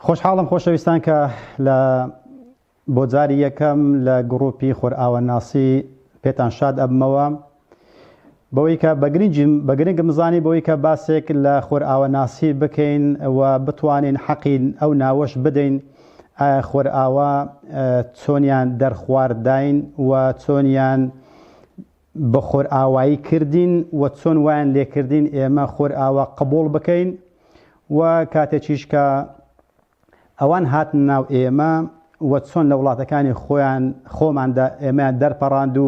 خۆشحاڵم خۆشەویستان کە لە بۆ جاری یەکەم لە گڕوپی خۆرئاواناسی پێتان شاد ئەبمەوە بەوەی کە بەگرنگیم بەگرنگم زانی بەوەی کە باسێک لە خۆرئاواناسی بکەین و بتوانین حەقین ئەو ناوەش بدەین ئایا خۆرئاوا چۆنیان دەرخوارداین و چۆنیان بە خۆرئاوایی کردین و چۆن وایان لێکردین ئێمە خۆرئاوا قبوڵ بکەین و کاتێکیش کە ئەوان هاتن ناو ئێمە و چۆن لە وڵاتەکانی خۆیان خۆماندا ئێمەیان دەرپەڕاند و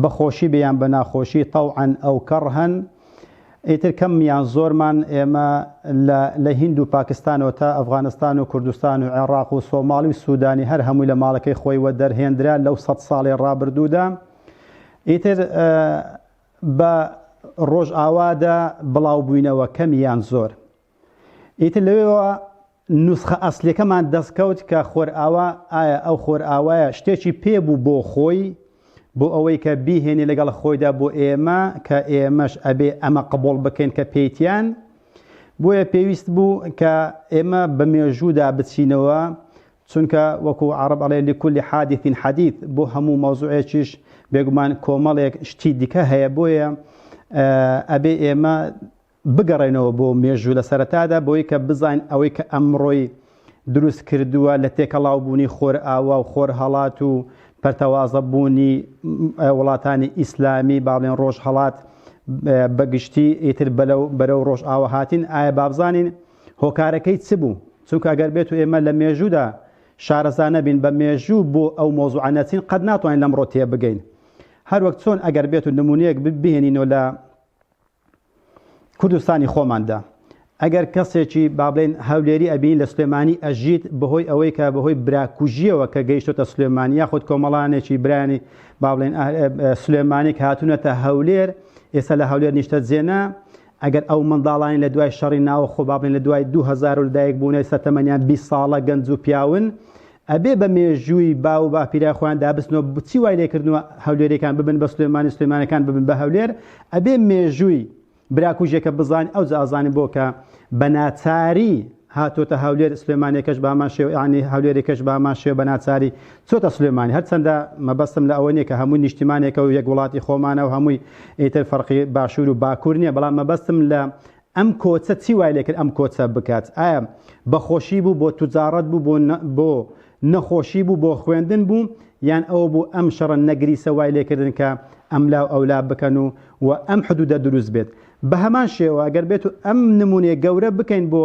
بە خۆشی بیان بە ناخۆشی تەوعەن ئەو کەڕهەن ئیتر کەم یان زۆرمان ئێمە لە لە هیند و پاکستانەوە تا ئەفغانستان و کوردستان و عێڕاق و سۆماڵی و سودانی هەر هەمووی لە ماڵەکەی خۆی وە دەرهێندرا لەو سەد ساڵی ڕابردوودا ئیتر بە ڕۆژئاوادا بڵاوبووینەوە کەم یان زۆر ئیتر لەوێوە نوسخە ئەسلیەکەمان دەستکەوت کە خۆرئاوا ئایا ئەو خۆرئاوایە شتێکی پێ بوو بۆ خۆی بۆ ئەوەی کە بیهێنێ لەگەڵ خۆیدا بۆ ئێمە کە ئێمەش ئەبێ ئەمە قبوڵ بکەین کە پێیتیان بۆیە پێویست بوو کە ئێمە بە مێژوودا بچینەوە چونکە وەکو عرب ئەڵێ لکل حادثین حەدیث بۆ هەموو مەوزوعێکیش بێگومان کۆمەڵێک شتی دیکە هەیە بۆیە ئەبێ ئێمە بگەڕێنەوە بۆ مێژوو لە سەرەتادا بۆی کە بزانین ئەوەی کە ئەمڕۆی دروست کردووە لە تێکەڵاو بوونی خۆرئاوا و خۆرهەڵات و پەرتەوازە بوونی وڵاتانی ئیسلامی با بڵێن ڕۆژهەڵات بە گشتی ئیتر بەلەو بەرەو ڕۆژئاوا هاتین ئایا با بزانین هۆکارەکەی چ بوو چونکە ئەگەر بێت و ئێمە لە مێژوودا شارەزا نەبین بە مێژوو بۆ ئەو مۆزوعە نەچین قەت ناتوانین لەمڕۆ تێبگەین هەروەک چۆن ئەگەر بێت و نمونەیەک بهێنینەوە لە کوردستانی خۆماندا ئەگەر کەسێکی بابلێن هەولێری ئەبین لە سلێمانی ئەژیت بەهۆی ئەوەی کە بەهۆی براکوژیەوە کە گەیشتۆتە سلێمانی یاخود کۆمەڵانێکی برانی بابلێن سلێمانی هاتوونەتە هەولێر ئێستا لە هەولێر نیشتە جێنا ئەگەر ئەو منداڵانی لە دوای شەڕی ناوە خۆبابلێن لە دوای 2000 لەدایک بوونە سەتەمەنیان 20 ساڵە گەنج و پیاون ئەبێ بە مێژووی باو و باپیرای خۆیان دابستنەوە بچی وای لێکردنەوە هەولێریەکان ببن بە سلێمانی سلێمانەکان ببن بە هەولێر ئەبێ مێژووی براکوژێکە بزان ئەو ئازانانی بۆ کە بە ناچاری هاتۆتە هەولێر سلێمانێکەش بامان شێو ینی هەولێرێکەش بامان شێو بە ناچاری چۆتە سلێمانی هەرچەندە مەبەستم لە ئەوە نیە کە هەموو نیشتیمانێکە و یەک وڵاتی خۆمانە و هەمووی ئیتر فەرقی باشوور و باکوور نییە بەڵام مەبەستم لە ئەم کۆچە چی وای لێکرد ئەم کۆچە بکات ئایا بەخۆشی بوو بۆ توجاڕەت بوو بۆ بۆ نەخۆشی بوو بۆ خوێندن بوو یان ئەوە بوو ئەم شەڕە نەگریسە وای لێکردن کە ئەملا و ئەولا بکەن و و ئەم حدودە دروست بێت بە هەمان شێوە گەر بێت و ئەم نمونەیە گەورە بکەین بۆ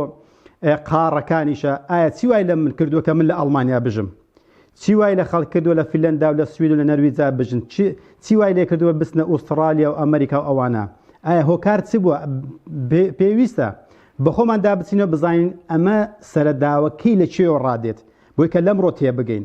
قاڕەکانیشە ئایا چی وای لە من کردووە کە من لە ئەڵمانیا بژم چی وای لە خەڵک کردووە لە فیلەندا و لە سوید و لە نەرویجا بژن چی وای لێ کردووە بچنە ئوسترالیا و ئەمریکا و ئەوانە ئایا هۆکار چ بووە پێویستە بەخۆمان دابچینەوە بزانین ئەمە سەرەداوەکەی لە چێوە ڕادێت بۆی کە لەمڕۆ تێبگەین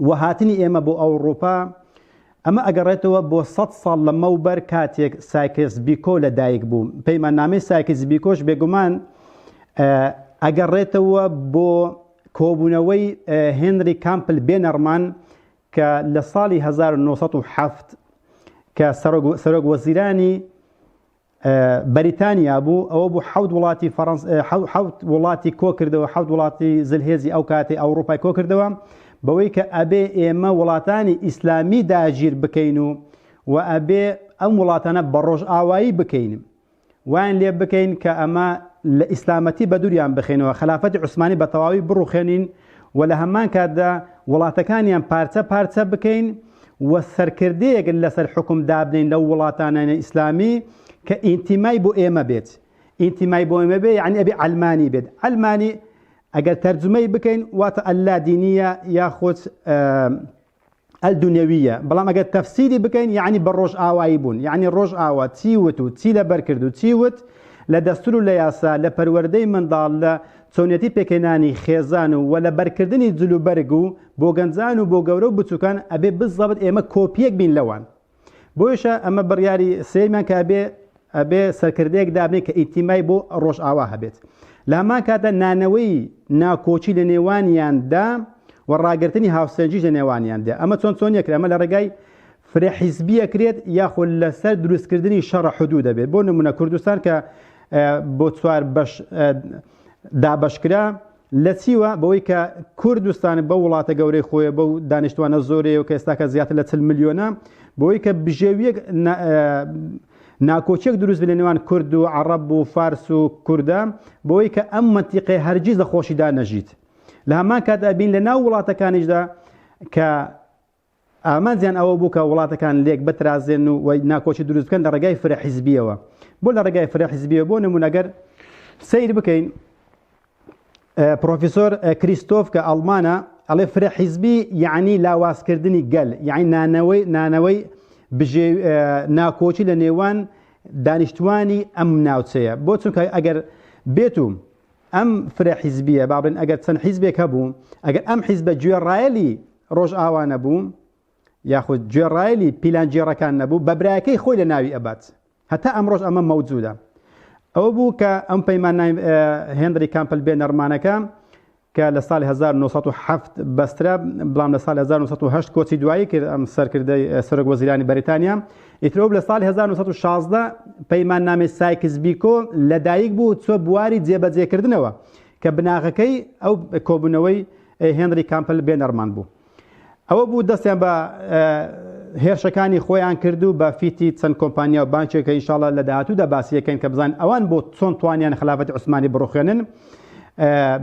و هاتنی ئێمە بۆ ئەوڕوپا ئەمە ئەگەڕێتەوە بۆ سەد ساڵ لەمەوبەر کاتێک سایکس بیکۆ لە دایک بوو پەیماننامەی سایکس بیکۆش بێگومان ئەگەڕێتەوە بۆ کۆبوونەوەی هێنری کامپل بێنەڕمان کە لە ساڵی 1970 کە سەرۆک وەزیرانی بەریتانیا بوو ئەوە بوو حەوت وڵاتی فەرەنس حەوت وڵاتی کۆکردەوە حەوت وڵاتی زلهێزی ئەو کاتی ئەوروپای کۆکردەوە بەوەی کە ئەبێ ئێمە وڵاتانی ئیسلامی داگیر بکەین و و ئەبێ ئەم وڵاتانە بە ڕۆژ ئاوایی بکەین وان لێ بکەین کە ئەمە لە ئیسلامەتی بەدوریان بخێنەوە خلافەتی عوسمانی بە تەواوی بڕوخێنین و لە هەمان کاتدا وڵاتەکانیان پارچە پارچە بکەین و سەرکردەیەک لەسەر حوکم دابنێین لەو وڵاتانەی ئیسلامی کە ئینتیمای بۆ ئێمە بێت ئینتیمای بۆ ئێمە بێ یعنی ئەبێ عەلمانی بێت عەلمانی ئەگەر تەرجمەی بکەین واتە اللادینیە یاخود الدنیویە بەڵام ئەگەر تەفسیری بکەین یعنی بە ڕۆژئاوایی بوون یعنی ڕۆژئاوا چی وت و چی لەبەر کرد و چی وت لە دەستور و لە یاسا لە پەروەردەی منداڵ لە چۆنیەتی پێکهێنانی خێزان و وە لە بەرکردنی جلوبەرگ و بۆ گەنجان و بۆ گەورە و بچوکان ئەبێ بزەبت ئێمە کۆپیەک بین لەوان بۆیشە ئەمە بڕیاری سێمان کە ئەبێ ئەبێ سەرکردەیەک دابنێ کە ئیتیمای بۆ ڕۆژئاوا هەبێت لامان کاتە نانەوەی ناکۆچی لە نێوانیاندا و ڕاگرتنی هاوسەنجیش لە نێوانیاندا ئەمە چۆن چۆن یەکرێ ئەمە لە ڕێگای فرە حیزبیە کرێت یاخۆ لەسەر دروستکردنی شەڕە حدوو دەبێت بۆ نمونە کوردستان کە بۆ چوار بەش دابشکرا لە چیوە؟ بەوەی کە کور دستان بەو وڵاتە گەورەی خۆیە بەو دانیشتوانە زۆرەیەو کە ئێستاکە زیاتر لە چل ملیۆنە بەوەی کە بژێویەک ناکۆچێک دروست لە نێوان کورد و عرب و فارس و کوردە بۆی کە ئەم منتیقی هەرگیز لە خۆشیدا نەژیت لە هەمان کات ئەبین لە ناو وڵاتەکانیشدا کە ئامانجیان ئەوە بوو کە وڵاتەکان لێک بترازێن و ناکۆکی دروست بکەن لە ڕێگای فرە حیزبیەوە بۆ لە ڕێگای فرە حیزبیە بۆ نمونەگەر سیر بکەین پرۆفیسۆر کریستۆف کە ئەڵمانە ئەڵێ فرە حیزبی یعنی لاوازکردنی گەل یعنی نانەوەی نانەوەی بژێ ناکۆچی لە نێوان دانیشتوانی ئەم ناوچەیە بۆ چونکە ئەگەر بێت و ئەم فرە حیزبییە با بڵێن ئەگەر چەند حیزبێک هەبوو، ئەگەر ئەم حیزبە گوێڕایەلی ڕۆژئاوا نەبوو، یاخود گوێڕایەلی پیلانگێڕەکان نەبوو، بە برایەکەی خۆی لە ناوی ئەبات. هەتا ئەمڕۆش ئەمە مەوجودە. ئەوە بوو کە ئەم پەیمان هێنری کامپل بێ نەرمانەکە کە لە ساڵی 1970 بەسترا بەڵام لە ساڵی 1970 کۆچی دوایی کرد ئەم سەرکردەی سەرۆک وەزیرانی بەریتانیا ئیترۆپ لە ساڵی هەزار و نۆ سەد و شازدە پەیماننامەی سایکس بیکۆ لەدایک بوو چوە بواری جێبەجێکردنەوە کە بناغەکەی ئەو کۆبوونەوەی هێنری کامپل بێنەرمان بوو ئەوە بوو دەستیان بە هێرشەکانی خۆیان کرد و بە فیتی چەند کۆمپانیا و بانکێکە ئینشاڵە لە داهاتوودا باسیەکەن کە بزان ئەوان بۆ چۆن توانیان خلافەت عوسمانی بڕوخێنن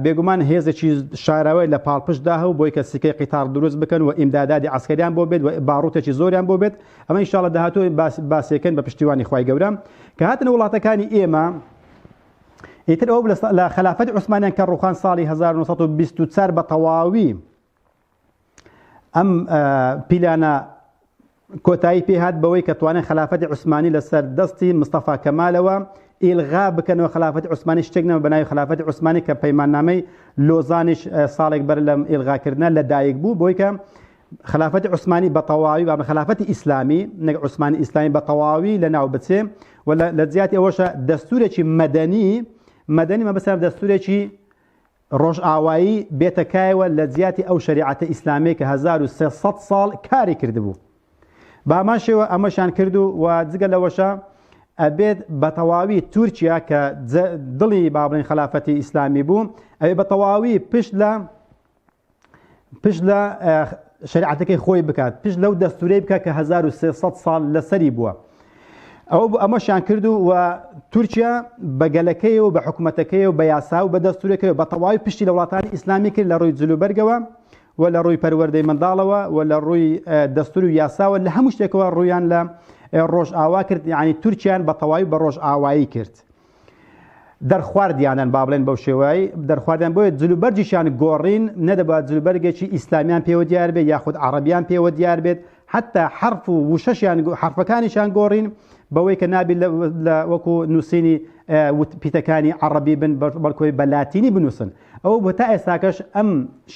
بێگومان هێزێکی شاراوی لە پاڵپشتدا هەو بۆی کە سیکەی قیتار دروست بکەن و ئیمدادادی ئاسکەریان بۆ بێت و باڕوتێکی زۆریان بۆ بێت ئەمە ئینشاءاللە داهاتوو باس باسێکن بە پشتیوانی خوای گەورە کە هاتنە وڵاتەکانی ئێمە ئیتر ئەو لە خلافەت عوسمانیان کە ڕوخان ساڵی 1924 بە تەواوی ئەم پیلانە کۆتایی پێهات بەوەی کە توانێت خلافەتی عوسمانی لەسەر دەستی مستەفا کەمالەوە ئیلغا بکەنەوە خلافەتی عوسمانی شتێک نەمە بەناوی خلافەتی عوسمانی کە پەیماننامەی لۆزانیش ساڵێک بەر لەم ئیلغاکردە لە دایک بوو بۆی کە خلافەتی عوسمانی بە تەواوی بە خلافەتی ئیسلامی نەک عوسمانی ئیسلامی بە تەواوی لە ناو بچێ و لە جیاتی ئەوەشە دەستورێکی مەدەنی مەدەنی مە بەسەر دەستورێکی ڕۆژئاوایی بێتەکایەوە لە جیاتی ئەو شریعەتە ئیسلامی کە 1300 ساڵ کاری کردبوو بامان شێوە ئەمەشان کرد و و جگە لەوەشە ئەبێت بە تەواوی تورکیا کە دڵی بابلین خلافەتی ئیسلامی بوو ئەوێ بە تەواوی پشت لە پشت لە شریعەتەکەی خۆی بکات پشت لەو دەستورەی بکە کە 1300 ساڵ لەسەری بووە ئەوە بۆ ئەمەشیان کرد و و تورکیا بە گەلەکەی و بە حکوومەتەکەی و بە یاسا و بە دەستورەکەی و بە تەواوی پشتی لە وڵاتانی ئیسلامی کرد لە ڕووی جلوبەرگەوە و لە ڕووی پەروەردەی منداڵەوە و لە ڕووی دەستور و یاساوە لە هەموو شتێکەوە ڕویان لە ڕۆژ ئاوا کرد یعنی تورکیان بە تەواوی بە ڕۆژ ئاوایی کرد دەرخواردیانن با بڵێن بەو شێوای دەرخواردیان بۆیە جلوبەرجیشیان گۆڕین نەدەبات جلوبەرگێکی ئیسلامیان پێوە دیار بێت یاخود عربیان پێوە دیار بێت حتا حرف و وشەشیان حرفەکانیشان گۆڕین بەوەی کە نابی لە وەکو نووسینی پیتەکانی عربی بن بەڵکۆی بە لاتینی بنووسن ئەو بە تا ئێستاکەش ئەم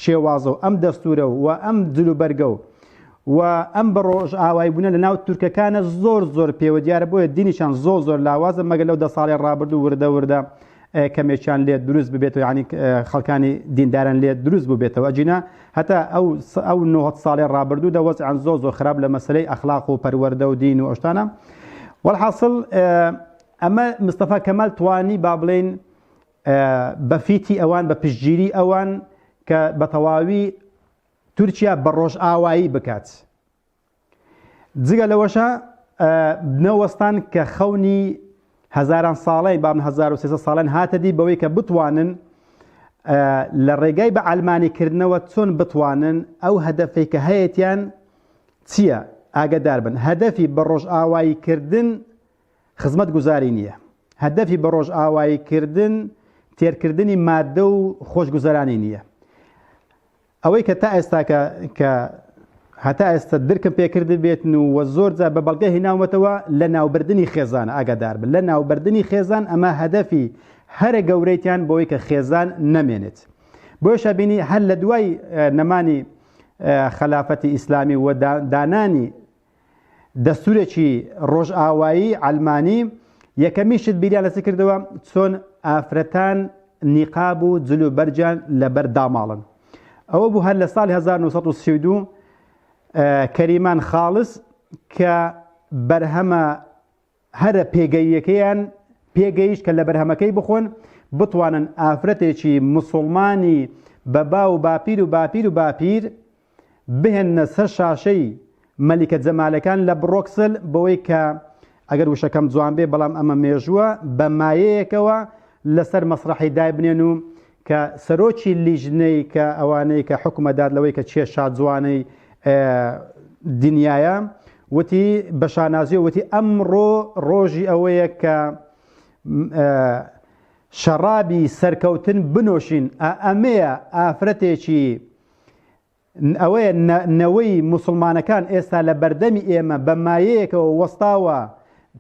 شێوازە و ئەم دەستورە و ئەم جلوبەرگە و و ئەم بە ڕۆژئاوای بونە لە ناو تورکەکانە زۆر زۆر پێوە دیارە بۆیە دینیشان زۆر زۆر لاوازە مەگەر لەو دە ساڵی ڕابردوو وردە وردە کەمێکیان لێ دروست ببێتەوە یعنی خەڵکانی دینداران لێ دروست ببێتەوە ئەجینا هەتا ئەو ئەو نۆ ساڵێ ڕابردوو دە وەزعان زۆ زۆ خراپ لە مەسلەی ئەخلاق و پەروەەردە و دین و ئەشتانە وەحاصل ئەمە مستەفا کەمال توانی با بڵین بەفیتی ئەوان بە پشتگیری ئەوان کە بە تەواوی تورکیا بە ڕۆژئاوایی بکات جگە لەوەشە نەوەستان کە خەونی هەزاران ساڵی بام 1970 ساڵن هاتە دی بەوەی کە بتوانن لە ڕێگای بە ئەلمانی کردنەوە چۆن بتوانن ئەو هەدەفی کە هەیەیان چییە ئاگدار بن هەدەفی بە ڕۆژئاوایی کردن خزمەت گوزاری نییە هەدەفی بە ڕۆژئاوایی کردن تێرکردنی مادە و خۆشگوزەرانی نییە ئەوەی کە تا ئێستاکە کە هەتا ئێستا درکم پێکردبێتن و وە زۆر جار بە بەڵگە هێناومەتەوە لە ناوبردنی خێزان ئاگادار بن لە ناوبردنی خێزان ئەمە هەدەفی هەرە گەورەیتان بۆی کە خێزان نەمێنێت بۆشە بینی هەر لە دوای نەمانی خەلافەتی ئیسلامی و دانانی دەستورێکی ڕۆژئاوایی عەلمانی یەکەمین شت بیریان لەچ کردەوە چۆن ئافرەتان نیقاب و جل و بەرجان لەبەر داماڵن ئەوە بوو هەر لە ساڵی 1932 کەریمان خاڵس کە بەرهەمە هەرە پێگەییەکەیان پێگەیشت کە لە بەرهەمەکەی بخۆن، بتوانن ئافرەتێکی موسوڵمانی بە باو و باپیر و باپیر و باپیر بهێننە سەر شاشەی مەلیکە جەمالەکان لە بڕۆکسل بەوەی کە ئەگەر وشەکەم جوان بێ بەڵام ئەمە مێژووە بە مایەیەکەوە لەسەر مەسرەحی دایبنێن و کە سەرۆکی لیژنەی کە ئەوانەی کە حوکمە داد لەوەی کە کێ شاجوانەی دنیایە وتی بە شانازی وتی ئەمڕۆ ڕۆژی ئەوەیە کە شەڕابی سەرکەوتن بنۆشین ئەمەیە ئافرەتێکی ئەوەیە نەوەی موسڵمانەکان ئێستا لە بەردەمی ئێمە بە مایەیەکەوە وەستاوە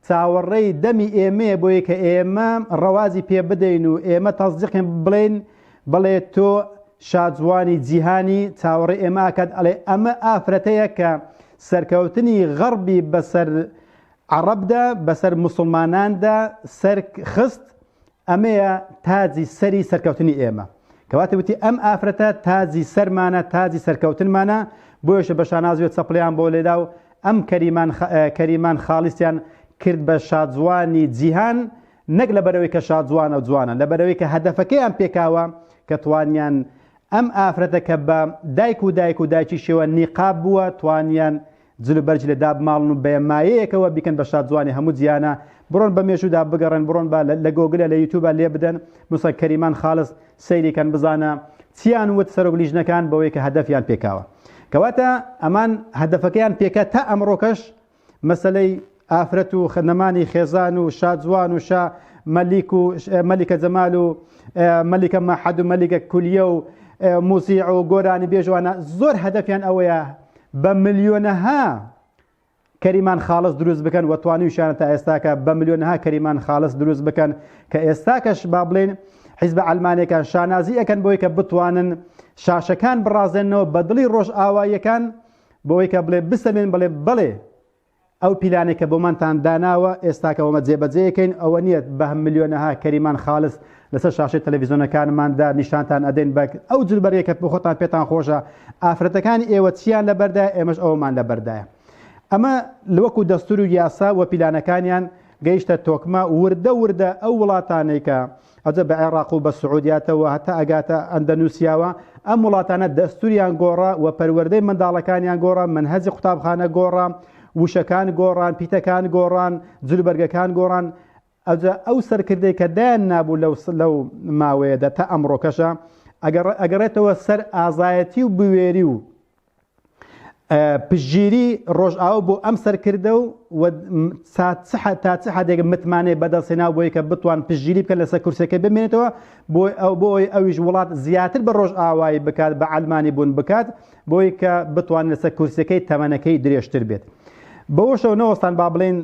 چاوەڕێی دەمی ئێمەیە بۆیە کە ئێمە ڕەوازی پێ بدەین و ئێمە تەزدیقێن بڵێن بڵێ تۆ شاجوانی جیهانی چاوەڕێ ئێمە ئاکات ئەڵێ ئەمە ئافرەتەیە کە سەرکەوتنی غەڕبی بەسەر عەڕەبدا بەسەر مسلماناندا سەر خست ئەمەیە تاجی سەری سەرکەوتنی ئێمە. کەواتە وتی ئەم ئافرەتە تاجی سەرمانە تاجی سەرکەوتنمانە بۆیەشە بە شانازیوە چەپڵیان بۆ لێدا و ئەم کەریمان کەریمان خاڵیسیان کرد بە شاجوانی جیهان نەک لەبەرەوەی کە شاجوانە و جوانە لەبەرەوەی کە هەدەفەکەیان پێکاوە کە توانیان ئەم ئافرەتە کە بە دایک و دایک و دایکی شێوە نیقاب بووە توانیان جل و بەرگی لێ دابماڵن و بە مایەیەکەوە بیکەن بە شادزوانی هەموو جیانە، بڕۆن بە مێژوودا بگەڕێن، بڕۆن با لە گۆگلە لە یوتوبا لێ بدەن، موسا کەریمان خالس سەیری کەن بزانە چیان وت سەرۆک لیژنەکان بەوەی کە هەدەفیان پێکاوە. کەواتە ئەمان هەدەفەکەیان پێکا تا ئەمڕۆکەش مەسەلەی. ئافرەت و نەمانی خێزان و شا جوان و شا مەلیک و مەلیکە جەمال و مەلیکە مەحەد و مەلیکە کولیە و موزیع و گۆرانی بێژوانە زۆر هەدەفیان ئەوەیە بە ملیۆنەها کەریمان خاڵس دروست بکەن و توانیوشانە تا ئێستاکە بە ملیۆنها کەریمان خاڵس دروست بکەن کە ئێستاکەش با بڵێن حیزبە ئەلمانەکان شانازی ئەەکەن بۆی کە بتوانن شاشەکان بڕازێنەوە بە دڵی ڕۆژ ئاواییەکان بۆی کە بڵێ بسەمێن بڵێ بڵێ ئەو پیلانەی کە بۆمانتان داناوە ئێستاکە وەمە جێبەجێیەکەین، ئەوە نییە بە ملیۆنەها کەریمان خالس لەسەر شاشەی تەلەفیزۆنەکانماندا نیشانتان ئەدەین بە ئەو جل بەرگە کە بۆخۆتان پێتان خۆشە، ئافرەتەکانی ئێوە چییان لەبەردایە ئێمەش ئەوەمان لەبەردایە. ئەمە وەکو دەستور و یاسا و پیلانەکانیان گەیشتە تۆکمە، وردە وردە ئەو وڵاتانەی کە ئەجە بە عێڕاق و بە سعودیاتەوە هەتا ئەگاتە ئەندەنوسیاوە ئەم وڵاتانە دەستوریان گۆڕا و پەروەردەی منداڵەکانیان گۆڕا منهەجی قوتابخانە گۆڕا وشەکان گۆڕان پیتەکان گۆڕان جلوبەرگەکان گۆڕان ئەجا ئەو سەرکردەی کە دایان نابوو لەو لەو ماوەیەدا تا ئەمڕۆکەشە ئەگەڕێتەوە سەر ئازایەتی و بوێری و پشگیری ڕۆژئاو بۆ ئەم سەرکردە و تا چ حدێک متمانێ بەدەستێنا بۆی کە بتوان پشگیری بکە لەسەر کورسەکە بمێنێتەوە بۆی ئەو بۆی ئەویش وڵات زیاتر بە ڕۆژ ئاوایی بکات بە ئەلمانی بوون بکات بۆی کە بتوان لەسەر کورسەکەی تەمەنەکەی درێژتر بێت بەوەشەوە نەوەستان با بڵێن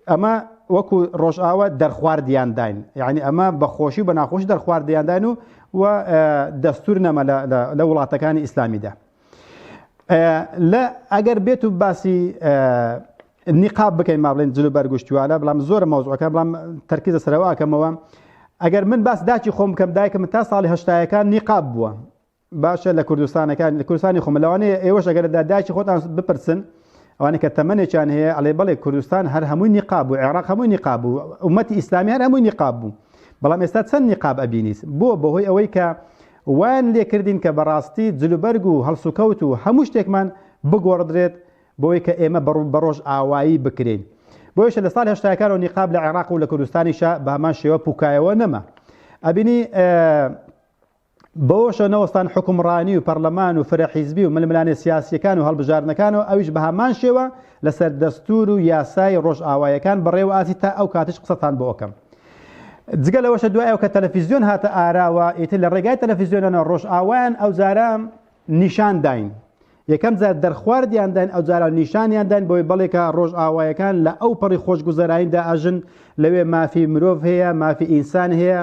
ئەمە وەکو ڕۆژئاوا دەرخواردیان داین یعنی ئەمە بە خۆشی و بە ناخۆش دەرخواردیان داین و و دەستور نەمە لە وڵاتەکانی ئیسلامیدا لە ئەگەر بێت و باسی نیقاب بکەین ما بڵێن جلو بەرگشتوالە بەڵام زۆر مەوزەکە بڵام تەرکیزە سەرەوەکەمەوە ئەگەر من باس داچی خۆم بکەم دایکم تا ساڵی هەشتایەکان نیقاب بووە باشە لە کوردستانەکان لە کوردستانی خۆمە لەوانەیە ئێوەش ئەگەر لە دایکی خۆتان بپرسن ئەوانە کە تەمەێکیان هەیە ئەڵێ بڵێ کوردستان هەر هەمووی نیقاب و عێراق هەمووی نیقاب و ومەتی ئیسلامی هەر هەمووی نیقاب بوو بەڵام ئێستا چەند نیقاب ئەبینیت بۆ بەهۆی ئەوەی کە وان لێکردین کە بەڕاستی جلوبەرگ و هەڵسوکەوت و هەموو شتێکمان بگۆڕدرێت بۆی کە ئێمە بەڕوو بەڕۆژ ئاوایی بکرین بۆیشە لە سال هشتاکارەوە نیقاب لە عێراق و لە کوردستانیشە بە هەمان شێوە پوکایەوە نەما ئەبینی بەوەشەوە نەوەستان حوکمڕانی و پەرلەمان و فرە حیزبی و ململانێ سیاسییەکان و هەڵبژاردنەکانەوە ئەویش بە هەمان شێوە لەسەر دەستوور و یاسای ڕۆژئاوایەکان بەڕێوە ئاچی تا ئەو کاتەش قسەتان بۆ ئەکەم جگە لەوەشە دوای ئەو کە تەلەفیزیۆن هاتە ئاراوە ئیتر لە ڕێگای تەلەفیزیۆنەوە ڕۆژئاوایان ئەوجارە نیشان داین یەکەم جار دەرخواردیان داین ئەو جاران نیشانیان داین بۆی بەڵێکە ڕۆژئاوایەکان لە ئەو پەڕی خۆشگوزەراییدا ئەژن لەوێ مافی مرۆڤ هەیە مافی ئینسان هەیە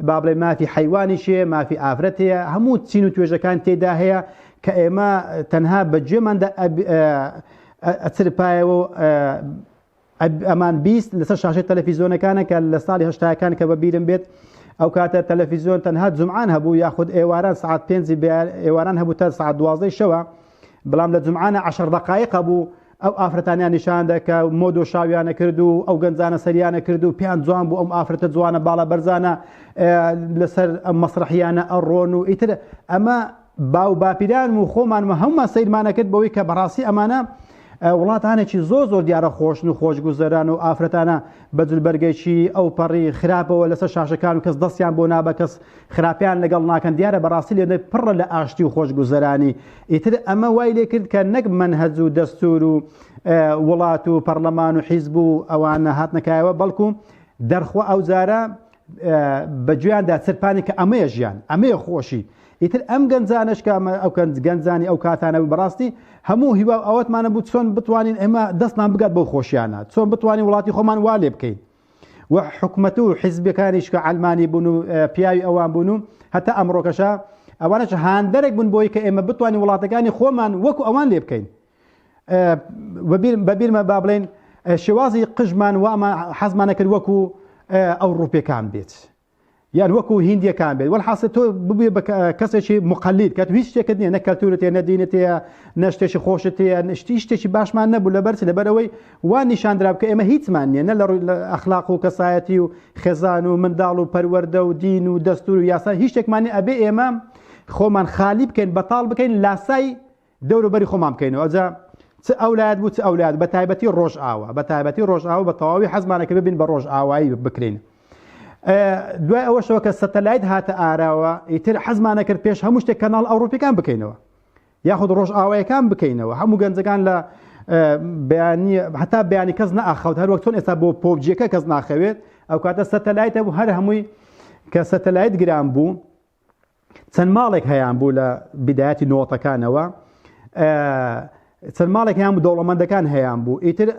با بڵێ مافی حیوانیش هەیە مافی ئافرەت هەیە هەموو چین و توێژەکان تێدا هەیە کە ئێمە تەنها بە گوێماندا ئەچرپایەوە ئەمان بیست لەسەر شاشەی تەلەفیزۆنەکانە کە لە ساڵی هەشتاکان کە بە بیرم بێت ئەو کاتە تەلەفیزیۆن تەنها جمعان هەبوو یاخود ئێواران سعات پێنج ئێواران هەبوو تا سعات دوازدەی شەوە بەڵام لە جمعانە عشر دقایق بوو ئەو ئافرەتانیان نیشان دەکە مۆد و شاویانە کرد و ئەو گەنجانە سەریانە کرد و پێیان جوان بوو ئەم ئافرەتە جوانە باڵە بەرزانە لەسەر ئەم مەسرحیانە ئەڕۆن و ئیتر ئەمە باو باپیرانم و خۆمانم و هەمومان سەیرمانەکرد بەوەی کە بەڕاستی ئەمانە وڵاتانێکی زۆر زۆر دیارە خۆشن و خۆشگوزەران و ئافرەتانە بە جلبەرگێکی ئەو پەڕی خراپەوە لەسەر شاشەکان و کەس دەستیان بۆ نابە کەس خراپیان لەگەڵ ناکەن دیارە بەڕاستی لێنە پڕە لە ئاشتی و خۆشگوزەرانی ئیتر ئەمە وای لێ کرد کە نەک منهەج و دەستور و وڵات و پەرلەمان و حیزب و ئەوانە هاتنەکایەوە بەڵکو دەرخوا ئەو جارە بە گوێیاندا چرپانی کە ئەمەیە ژیان، ئەمەیە خۆشی. ئیتر ئەم گەنجانەش کە ئەمە ئەو گەنجانی ئەو کاتانە بوو بەڕاستی هەموو هیوا و ئاواتمانە بوو چۆن بتوانین ئێمە دەستمان بگات بەو خۆشییانە، چۆن بتوانین وڵاتی خۆمان وا لێ بکەین. و حکومەت و حیزبەکانیش کە عەلمانی بوون و پیاوی ئەوان بوون و هەتا ئەمڕۆکەشە ئەوانەش هاندەرێک بوون بۆی کە ئێمە بتوانین وڵاتەکانی خۆمان وەکو ئەوان لێ بکەین. بە بیرمە با بڵێن شێوازی قژمان واما حەزمانە کرد وەکو ئەو ڕوپێکان بێت یان وەکو هندیەکان بێت وەحاست تۆ ببێ بە کەسێکی مقلید کە هیچ شتێکت نیە نەکەلتورێت نەدینێت نەشتێکی خۆشت نشتی شتێکی باشمان نەبوو لە بەرچ لەبەرەوەی وان نیشاندرا بکە ئێمە هیچمان نیە نە لە ڕووی لە ئەخلاق و کەسایەتی و خێزان و منداڵ و پەروەەردە و دین و دەستور و یاسا هیچ شتێکمانی ئەبێ ئێمە خۆمان خالی بکەین بەتاڵ بکەین لاسای دەورو بەری خۆمان بکەینەوە ئەوجا چ ئەو لایەت بوو چ ئەو لایەت بە تایبەتی ڕۆژئاوا بە تایبەتی ڕۆژئاوا بە تەواوی حەزمانە کە ببین بە ڕۆژئاوایی بکرین دوای ئەوەشەوە کە سەتەلایت هاتە ئاراوە ئیتر حەزمانە کرد پێش هەموو شتێک کەناڵ ئەوروپیەکان بکەینەوە یاخود ڕۆژ ئاوایەکان بکەینەوە هەموو گەنجەکان لە بەیانی هەتا بەیانی کەس ناخەوت هەر وەک چۆن ئێستا بۆ پۆبجیەکە کەس ناخەوێت ئەو کاتە سەتەلایتە بوو هەر هەمووی کە سەتەلایت گران بوو چەند ماڵێک هەیان بوو لە بدایەتی نۆتەکانەوە چەند ماڵێک هەیان بوو دەوڵەمەندەکان هەیان بوو ئیتر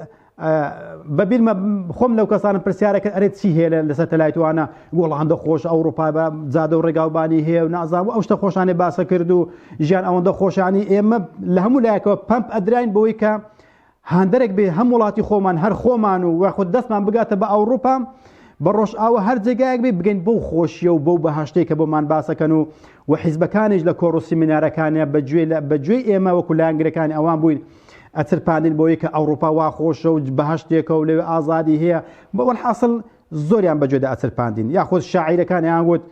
بەبیرمە خۆم لەو کەسانم پرسیارەکە ئەرێت چی هەیە لە سەتەلایتوانە گۆڵهاندە خۆش ئەوروپا بە جادە و ڕێگاوبانی هەیە و نازانام ئەو شتە خۆشانێ باسە کرد و ژیان ئەوەندە خۆشانی ئێمە لە هەموو لایەکەوە پمپ ئەدراین بۆی کە هاندەرێک بێ هەم وڵاتی خۆمان هەر خۆمان و وەخود دەستمان بگاتە بە ئەوروپا بە ڕۆژئاوە هەر جێگایەک بێ بگەین بەو خۆشیە و بەو بەهشتێکە بۆمان باسەکەن و و حیزبەکانیش لە کۆڕوسی منارەکانە بەگوێ لە بەگوێ ئێمە وەکو لایەنگرەکان ئەوان بووین ئەترپاندن بۆ یکە ئەوروپا وا خۆشە و بەهشتێکە و لەوێ ئازادی هەیە بەوەل حاصل زۆریان بە گوێدا ئەچرپاندین یاخود شاعیرەکان یان وت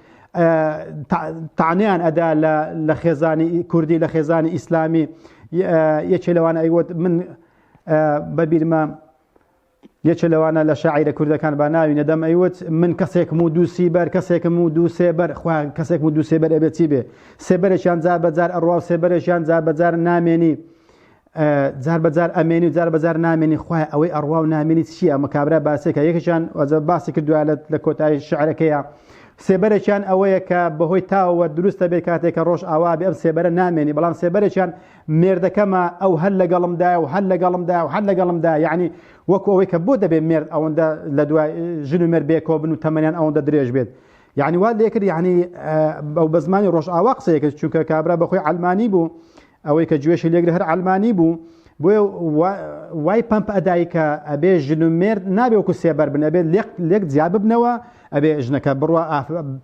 تانیان ئەدا لە خێزانی کوردی لە خێزانی ئیسلامی یەکێ لەوان ئەیوت من بەبیرمە یەکێ لەوانە لە شاعیرە کوردەکان با ناوی نەدەم ئەیوت من کەسێکم و دووسی بەر کەسێکم و دوو سێبەر خوان کەسێک و دوو سێبەر ئەبێتی بێ سێبەرێکیان جار بەجار ئەڕوا و سێبەرێکیان جار بەجار نامێنی جار بە جار ئەمێنی و جار بە جار نامێنی خوای ئەوەی ئەڕوا و نامێنی چییە ئەمە کابرا باسێکە یەکێکیان وەزە باسی کردووە لە لە کۆتایی شعرەکەیە سێبەرێکیان ئەوەیە کە بەهۆی تاوە دروستە بێ کاتێک کە ڕۆژ ئاوا بێ ئەم سێبەرە نامێنی بەڵام سێبەرێکیان مێردەکەمە ئەو هەر لەگەڵمدایە و هەر لەگەڵمدا و هەر لەگەڵمدا یعنی وەکو ئەوەی کە بۆ دەبێت مێرد ئەوەندە لە دوای ژن و مێرد بێکۆ بن و تەمەنیان ئەوەندە درێژ بێت یعنی وا لێکرد یعنی ئەو بە زمانی ڕۆژ ئاوا قسەیەکرد چونکە کابرا بەخۆی ئەلمانی بوو ئەوەی کە گوێشی لێگرت هەر عەلمانی بوو بۆیە وای پەمپ ئەدای کە ئەبێ ژن و مێرد نابێ وەکو سێبەر بن ئەبێ لێک لێک جیا ببنەوە ئەبێ ژنەکە بڕە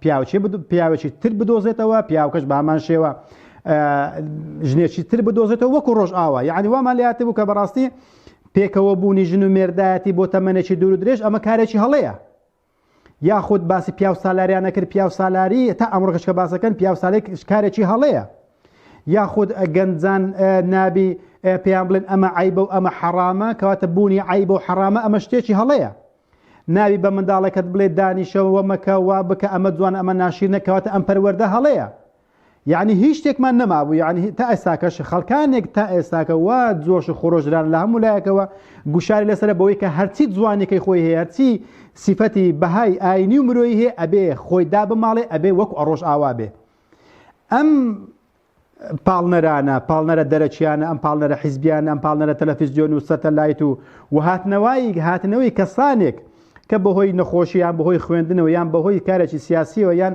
پیاوچێ پیاوێکی تر بدۆزێتەوە پیاوکەش بامان شێوە ژنێکی تر بدۆزێتەوە وەکو ڕۆژ ئاوا یعنی وامان لاتێ بوو کە بەڕاستی پێکەوە بوونی ژن و مێردایەتی بۆ تەمەێکی دوور درێژ ئەمە کارێکی هەڵەیە یاخود باسی پیاو سالاریانە کرد پیاو سالاری تا ئەمڕۆکەش کە باسەکەن پیاو سالێک کارێکی هەڵەیە یاخود گەنجان نابی پێیان بڵێن ئەمە عیبە و ئەمە حەرامە کەواتە بوونی عیبە و حەرامە ئەمە شتێکی هەڵەیە ناوی بە منداڵەکەت بڵێ دانیشەوە مەکە وا بکە ئەمە جوان ئەمە ناشیر نەکەواتە ئەم پەروەەردە هەڵەیە یەعنی هیچ شتێکمان نەمابوو یعنی تا ئێستاکەش خەڵکانێک تا ئێستاکە وا جۆش و خۆرۆژران لە هەموو لایەکەوە گوشاری لەسەر بەوەی کە هەرچی جوانەکەی خۆی هەیە هەرچی سیفەتی بەهای ئاینی و مرۆی هەیە ئەبێ خۆی دا بماڵێ ئەبێ وەک ئەڕۆژ ئاوا بێ ئەم پاڵنەرانە پاڵنەرە دەرەچیانە ئەم پاڵنەرە حیزبیان ئەم پاڵنەرە تەلەفیزیۆن و سەتەلایت و وهاتنەوەی هاتنەوەی کەسانێک کە بەهۆی نەخۆشییان بەهۆی خوێندنەوە یان بەهۆی کارێکی سیاسیەوە یان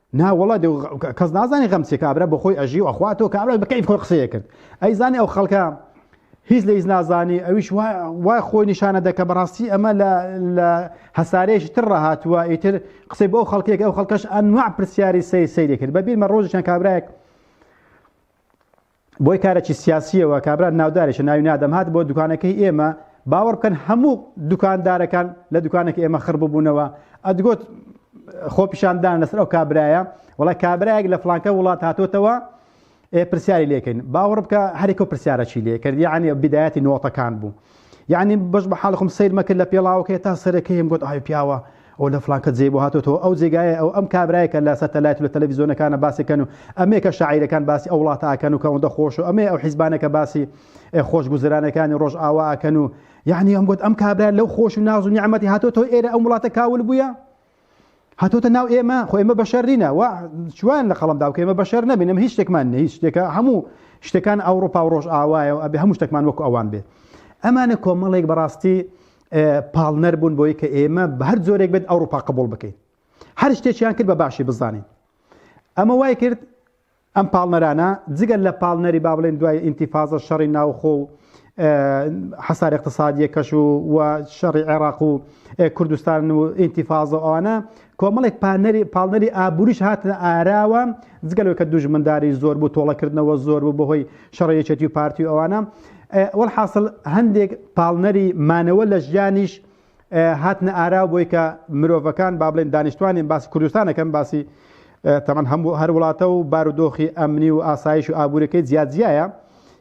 نا وەڵا کەس نازانانی غەم چێ کابرا بۆ خۆی ئەژی و ئەخوا تۆ کابرا بەکەی خۆ قسەیە کرد ئەی زانانی ئەو خەڵکە هیچ لە هیچ نازانی ئەویش وای خۆی نیشانە دەکە بەڕاستی ئەمە لە هەسارەیەکی تر ڕاهاتوە ئیتر قسەی بۆ خەڵکێک ئەو خەڵکەش ئەنوا پرسیاری سەی سەیری کرد بەبییرمە ڕۆژیان کابراێک بۆی کارەکی سیاسیەوە کابرا ناودارێکە ناوی نادەم هات بۆ دوکانەکەی ئێمە باوەڕ بکەن هەموو دوکان دارەکان لە دوکانەکە ئێمە خڕ ببوونەوە ئەدگۆت خۆپیشاندان لەسەر ئەو کابرایە وڵای کابراایەک لە فلانکە وڵات هاتوتەوە پرسیاری لێکەین باوەڕ بکە هەرێکە پرسیارەکی لێ کردیانە بدایەتی نۆتەکان بوو یعنی بەش بە حاڵخم سیر مەکرد لە پێڵاوەکەی تا سەرەکەی هەم گوت ئای پیاوە ئەو لە فلانکە جێ بۆ هاتۆتەوە ئەو جێگایە ئەو ئەم کابرایە کە لە سەتەلایت لە تەلەڤیزیۆنەکانە باسەکەن و ئەمێ کە شاعیرەکان باسی ئەو وڵاتە ئاکەن و کە ئەوەندە خۆش و ئەمێ ئەو حیزبانە کە باسی خۆشگوزرانەکانی ڕۆژ ئاوا ئاکەن و یعنی ئەم گوت ئەم کابرا لەو خۆش و ناز و نیعمەتی هاتۆتەوە ئێرە ئەم وڵاتە کاول بووە هاتۆتە ناو ئێمە خۆ ئێمە بەشەر نینە و چوان لە قەڵم داوکە ئمە بەشەر نبینم هیچ شتێکمان نە هیچ شتێکە هەموو شتەکان ئەوروپا و ڕۆژ ئاوایە و ئەبێ هەموو شتێکمان وەکو ئەوان بێت ئەمانە کۆمەڵێک بەڕاستی پاڵنەر بوون بۆی کە ئێمە بە هەر زۆرێک بێت ئەوروپا قبول بکەین هەر شتێکیان کرد بە باشی بزانین ئەمە وای کرد ئەم پاڵنەرانە جگە لە پاڵنەری با بڵێن دوای ئینتیفازە شەڕی ناوخۆ و حەسار اقتصادیەکەش و و شەڕی عێراق و کوردستان و ئینتیفازە ئەوانە کۆمەڵێک پانەری پاڵنەری ئابووریش هاتن ئاراوە جگەلەوە کە دوژمنداری زۆر بوو تۆڵەکردنەوە زۆر بوو بەهۆی شەڕی یەکێتی و پارتی و ئەوانە وەڵحاصل هەندێک پاڵنەری مانەوە لە ژیانیش هاتنە ئارا بۆی کە مرۆڤەکان با بڵێن دانیشتوانین باسی کوردستانەکەم باسی تەمان هەموو هەر وڵاتە و بارودۆخی ئەمنی و ئاسایش و ئابوورەکەی جیاجیایە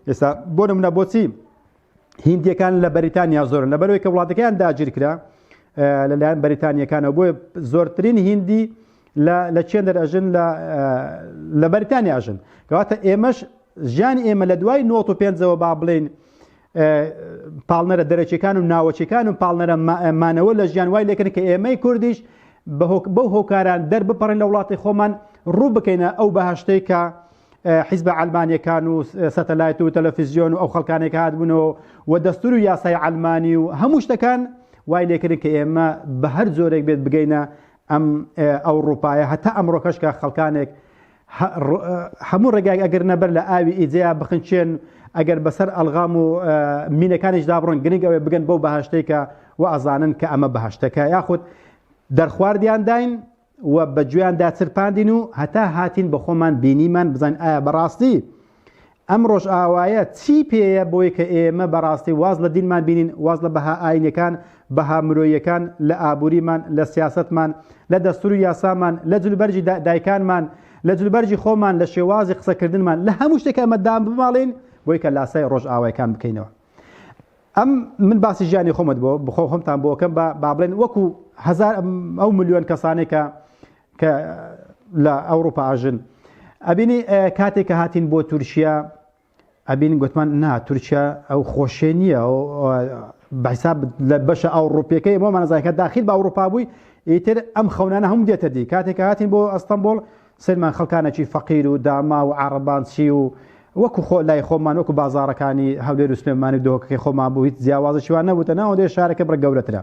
ئێستا بۆ نمونە بۆچی هندیەکان لە بەریتانیا زۆرن لەبەرەوەی کە وڵاتەکەیان داگیر کرا لەلایەن بەریتانیەکانەوە بۆ زۆرترین هندی لە چێن دەرەژن لە بەریتانیاژن کەواتە ئێمەش ژیانی ئێمە لە دوای 95ەوە با بڵین پاڵنەرە دەرەکیەکان و ناوەکیەکان و پاڵنەرە مانەوە لە ژیان وای لەکەن کە ئێمەی کوردیش بەو هۆکاران دەربپەڕین لە وڵاتی خۆمان ڕوو بکەینە ئەو بەهشتەی کە حیزبە ئەلمانیەکان و سەتەلایت و تەلەفیزیۆن و ئەو خەڵکانێک هاتبوونەوە و دەستور و یاسای ئەلمانی و هەموو شتەکان وای لێکردن کە ئێمە بە هەر جۆرێک بێت بگەینە ئەم ئەوڕوپایە هەتا ئەمڕۆکەش کە خەڵکانێک هەموو ڕێگایك ئەگەر نەبەر لە ئاوی ئیجەیە بخنچێن ئەگەر بەسەر ئەلغام و مینەکانیش دابڕن گرنگەوەی بگەن بەو بەهشتێکە و ئەزانن کە ئەمە بەهشتەکە یاخود دەرخواردیان داین و بە گوێیاندا چرپاندین و هەتا هاتین بە خۆمان بینیمان بزانین ئایا بەڕاستی ئەم ڕۆژئاوایە چی پێیە بۆی کە ئێمە بەڕاستی واز لە دینمان بینین واز لە بەها ئاینەکان بەها مرۆیەکان لە ئابووریمان لە سیاستمان لە دەستور و یاسامان لە جلبەرجی دایکانمان لە جلبەرجی خۆمان لە شێوازی قسەکردنمان لە هەموو شتێک ئەمە دام بماڵین بۆی کە لاسای ڕۆژئاوایەکان بکەینەوە ئەم من باسی ژیانی خۆمت بۆ بخۆ خۆمتان بۆکەم بە با بڵێن وەکو هزار ئەو ملیۆن کەسانێکە کە لە ئەوروپا ئاژن ئەبینی کاتێک کە هاتین بۆ تورکیا ئەبین گوتمان نا تورکیا ئەو خۆشێ نییە بەحساب لە بەشە ئەوروپیەکەی بۆ مانەزایکە داخل بە ئەوروپا بووی ئیتر ئەم خەونانە هەم دێتە دی کاتێک هاتین بۆ ئەستەمبول سەرمان خەڵکانەکی فەقیر و داما و عربان چی و وەکو خۆ لای خۆمان وەکو بازارەکانی هەولێر و سلێمانی دۆکەکەی خۆمان بوو هیچ جیاوازە شیوان نەبووتە ناوەندێ شارەکە بڕ گەورەترە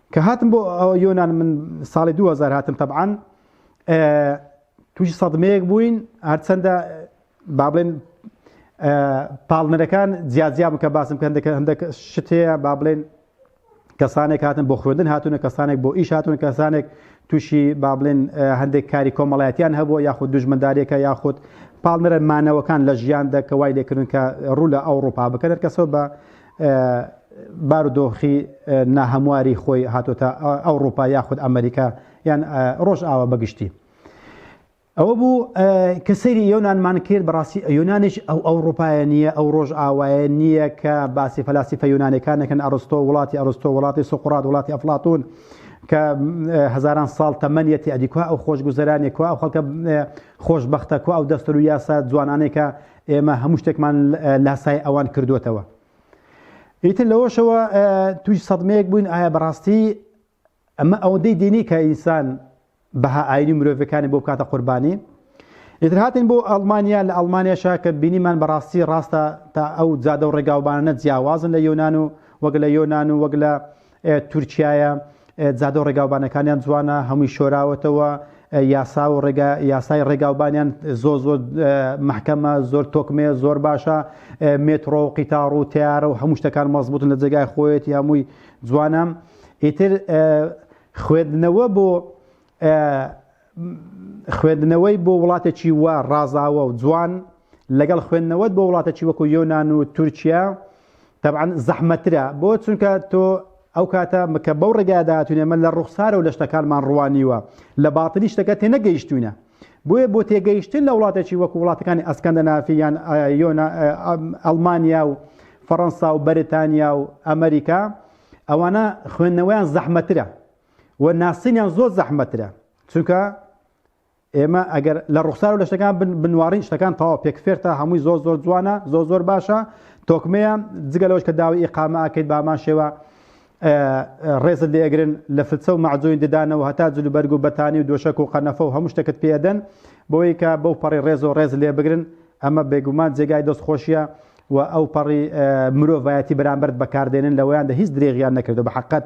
کە هاتم بۆ یۆنان من ساڵی 2000 هاتم تەبعاان تووشی سەدمەیەک بووین هەرچەندە با بڵێن پاڵنەرەکان جیاجیا بکە باسم کە هەندەکە هەندێک شتەیە با بڵێن کەسانێک هاتن بۆ خوێندن هاتوونە کەسانێک بۆ ئیش هاتون کەسانێک تووشی با بڵێن هەندێک کاری کۆمەڵایەتیان هەبوو یاخود دوژمەدارێکە یاخود پاڵنەرە مانەوەکان لە ژیان دەکە وای لێکردن کە ڕوو لە ئەوروپا بکەێت کەسەوە بە بارودۆخی ناهەمواری خۆی هاتۆتە ئەوڕوپا یاخود ئەمریکا یان ڕۆژ ئاوە بەگشتی ئەوە بوو کە سەیری یۆنانمان کرد بەڕاستی یۆنانیش ئەو ئەو ڕوپایە نییە ئەو ڕۆژ ئاوایە نییە کە باسی فەلاسی فە یۆنانەکانەکەن ئەرستۆ وڵاتی ئەرستۆ وڵاتی سوقڕات وڵاتی ئەفلاتون کە هزاران ساڵ تەمەنیەتی ئەدیکوا ئەو خۆشگوزەرانێکوا ئەو خەڵکە خۆشببختە کو ئەو دەستەر و یاسا جوانانێکە ئێمە هەموو شتێکمان لاسای ئەوان کردوتەوە ئیتر لەوەشەوە توی سەدمەیەک بووین ئایا بەڕاستی ئەمە ئەوەندەی دینی کە ئینسان بەها ئاینی مرۆڤەکانی بۆ بکاتە قوربانی ئیتر هاتین بۆ ئەڵمانیا لە ئەڵمانیاشا کە بینیمان بەڕاستی ڕاستە تا ئەو جادە و ڕێگاوبانە جیاوازن لە یۆناان و وەگە لە یۆناان و وەگە لە تورکیایە جادە و ڕێگاوبانەکانیان جوانە هەمووی شۆراوەتەوە یاسا و ڕێگا یاسای ڕێگاوبانیان زۆ زۆ محکەمە زۆر تۆکمێ زۆر باشە مێتڕۆ و قیتاڕ و تیارە و هەموو شتەکان مەزبوتن لە جێگای خۆیەتی هەمووی جوانە ئیتر خوێندنەوە بۆ خوێندنەوەی بۆ وڵاتێکی وا ڕازاوە و جوان لەگەڵ خوێندنەوەت بۆ وڵاتێکی وەکو یۆنان و تورکیا تەبعەن زەحمەترە بۆ چونکە تۆ ئەو کاتە مکە بەو ڕێگایە داهاتوینە من لە ڕوخسارە و لە شتەکانمان ڕوانیوە لە باتنی شتەکە تێنەگەیشتوینە بۆیە بۆ تێگەیشتن لە وڵاتێکی وەکو وڵاتەکانی ئەسکەندەنافی یان یۆنا ئەڵمانیا و فەڕەنسا و بەریتانیا و ئەمریکا ئەوانە خوێندنەوەیان زەحمەترە و ناسینیان زۆر زەحمەترە چونکە ئێمە ئەگەر لە ڕوخسار و لە شتەکان بنوارین شتەکان تەوا پێک فێرتە هەمووی زۆر زۆر جوانە زۆر زۆر باشە تۆکمەیە جگە لەوەش کە داوی ئیقامە ئەکەیت بامان شێوە ڕێزت لێگرن لە فلچە و مەعجوین ددانەوە هەتا جلوبەرگ و بەتانی و دۆشک و قەنەفە و هەموو شتەکەت پێدەن بۆیکە بەو پەڕی ڕێز و ڕێز لێ بگرن ئەمە بێگومان جێگای دەست خۆشیە و ئەوپەڕی مرۆڤایەتی بەرامبەرت بەکاردێنن لەوەیاندا هیچ درێغیان نەکردوە بەحەقت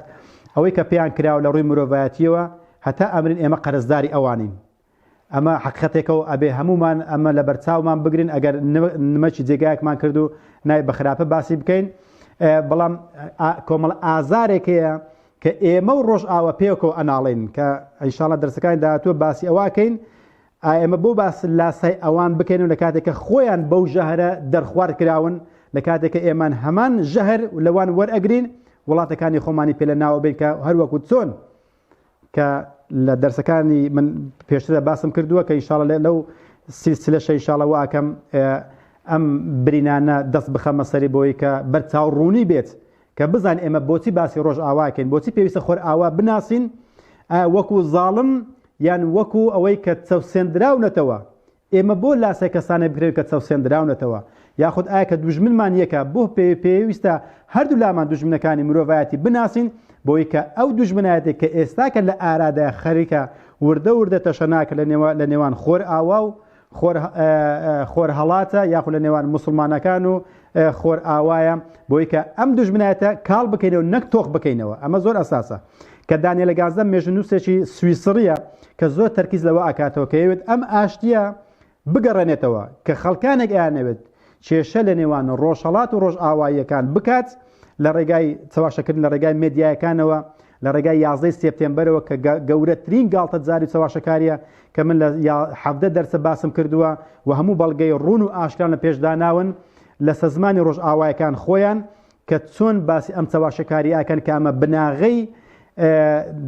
ئەوەی کە پێیان کراوە لە ڕووی مرۆڤایەتیەوە هەتا ئەمرین ئێمە قەرزداری ئەوانین ئەمە حەقیقەتێکە و ئەبێ هەموومان ئەمە لە بەرچاومان بگرین ئەگەر نمەکی جێگایەکمان کرد و نای بە خراپە باسی بکەین بەڵام کۆمەڵ ئازارێکەیە کە ئێمە و ڕۆژئاوە پێکەوە ئەناڵین کە ئەیشاڵە دەرسەکانی داهاتوە باسی ئەوەکەین ئایا ئێمە بۆ باس لاسای ئەوان بکەینەوە لە کاتێک کە خۆیان بەو ژەهرە دەرخوارد کراون لە کاتێک کە ئێمان هەمان ژەهر لەوان وەرئەگرین وڵاتەکانی خۆمانی پێ لە ناوە بین کە هەروەکو چۆن کە لە دەرسەکانی من پێشترە باسم کردووە کە ئیشاڵە لە لەو سیلسلە شەیشاڵە واکەم ئەم برینانە دەست بخەمە سەری بۆی کە بەرچاو ڕوونی بێت کە بزان ئێمە بۆچی باسی ڕۆژئاواکەین بۆچی پێویستە خۆر ئاوا بناسین وەکو زاڵم یان وەکو ئەوەی کە چەوسێندراونەتەوە ئێمە بۆ لاسای کەسانە بکرێن کە چەوسێندراونەتەوە یاخود ئایا کە دوژمنمان یەکە بۆ پێ پێویستە هەردوو لامان دوژمنەکانی مرۆڤایەتی بناسین بۆی کە ئەو دوژمنایەتێک کە ئێستاکە لە ئارادا خەریکە وردە وردە تەشەناکە لە نێوان خۆر ئاوا و خۆرهەڵاتە یاخو لە نێوان مسلمانەکان و خۆر ئاوایە بۆی کە ئەم دوژمنایەتە کاڵ بکەینەوە نەک تۆخ بکەینەوە ئەمە زۆر ئەساسە کە دانیە لە گازدە مێژنووسێکی سویسڕیە کە زۆر تەرکیز لەوە ئاکاتەوە کە یەوێت ئەم ئاشتیە بگەڕێنێتەوە کە خەڵکانێک ئەیانەوێت کێشە لە نێوان ڕۆژهڵات و ڕۆژئاواییەکان بکات لە ڕێگای چەواشەکردن لە ڕێگای مدیایەکانەوە لە ڕێگای یازدە ی سێپتێمبەرەوە کە گە گەورەترین گاڵتە جاری و چەواشەکاریە کە من لە یا حەڤدە دەرسە باسم کردوە و هەموو بەڵگەی ڕوون و ئاشکرام لە پێش داناون لە سەزمانی ڕۆژئاوایەکان خۆیان کە چۆن باسی ئەم چەواشەکاریە ئەکەن کە ئەمە بناغەی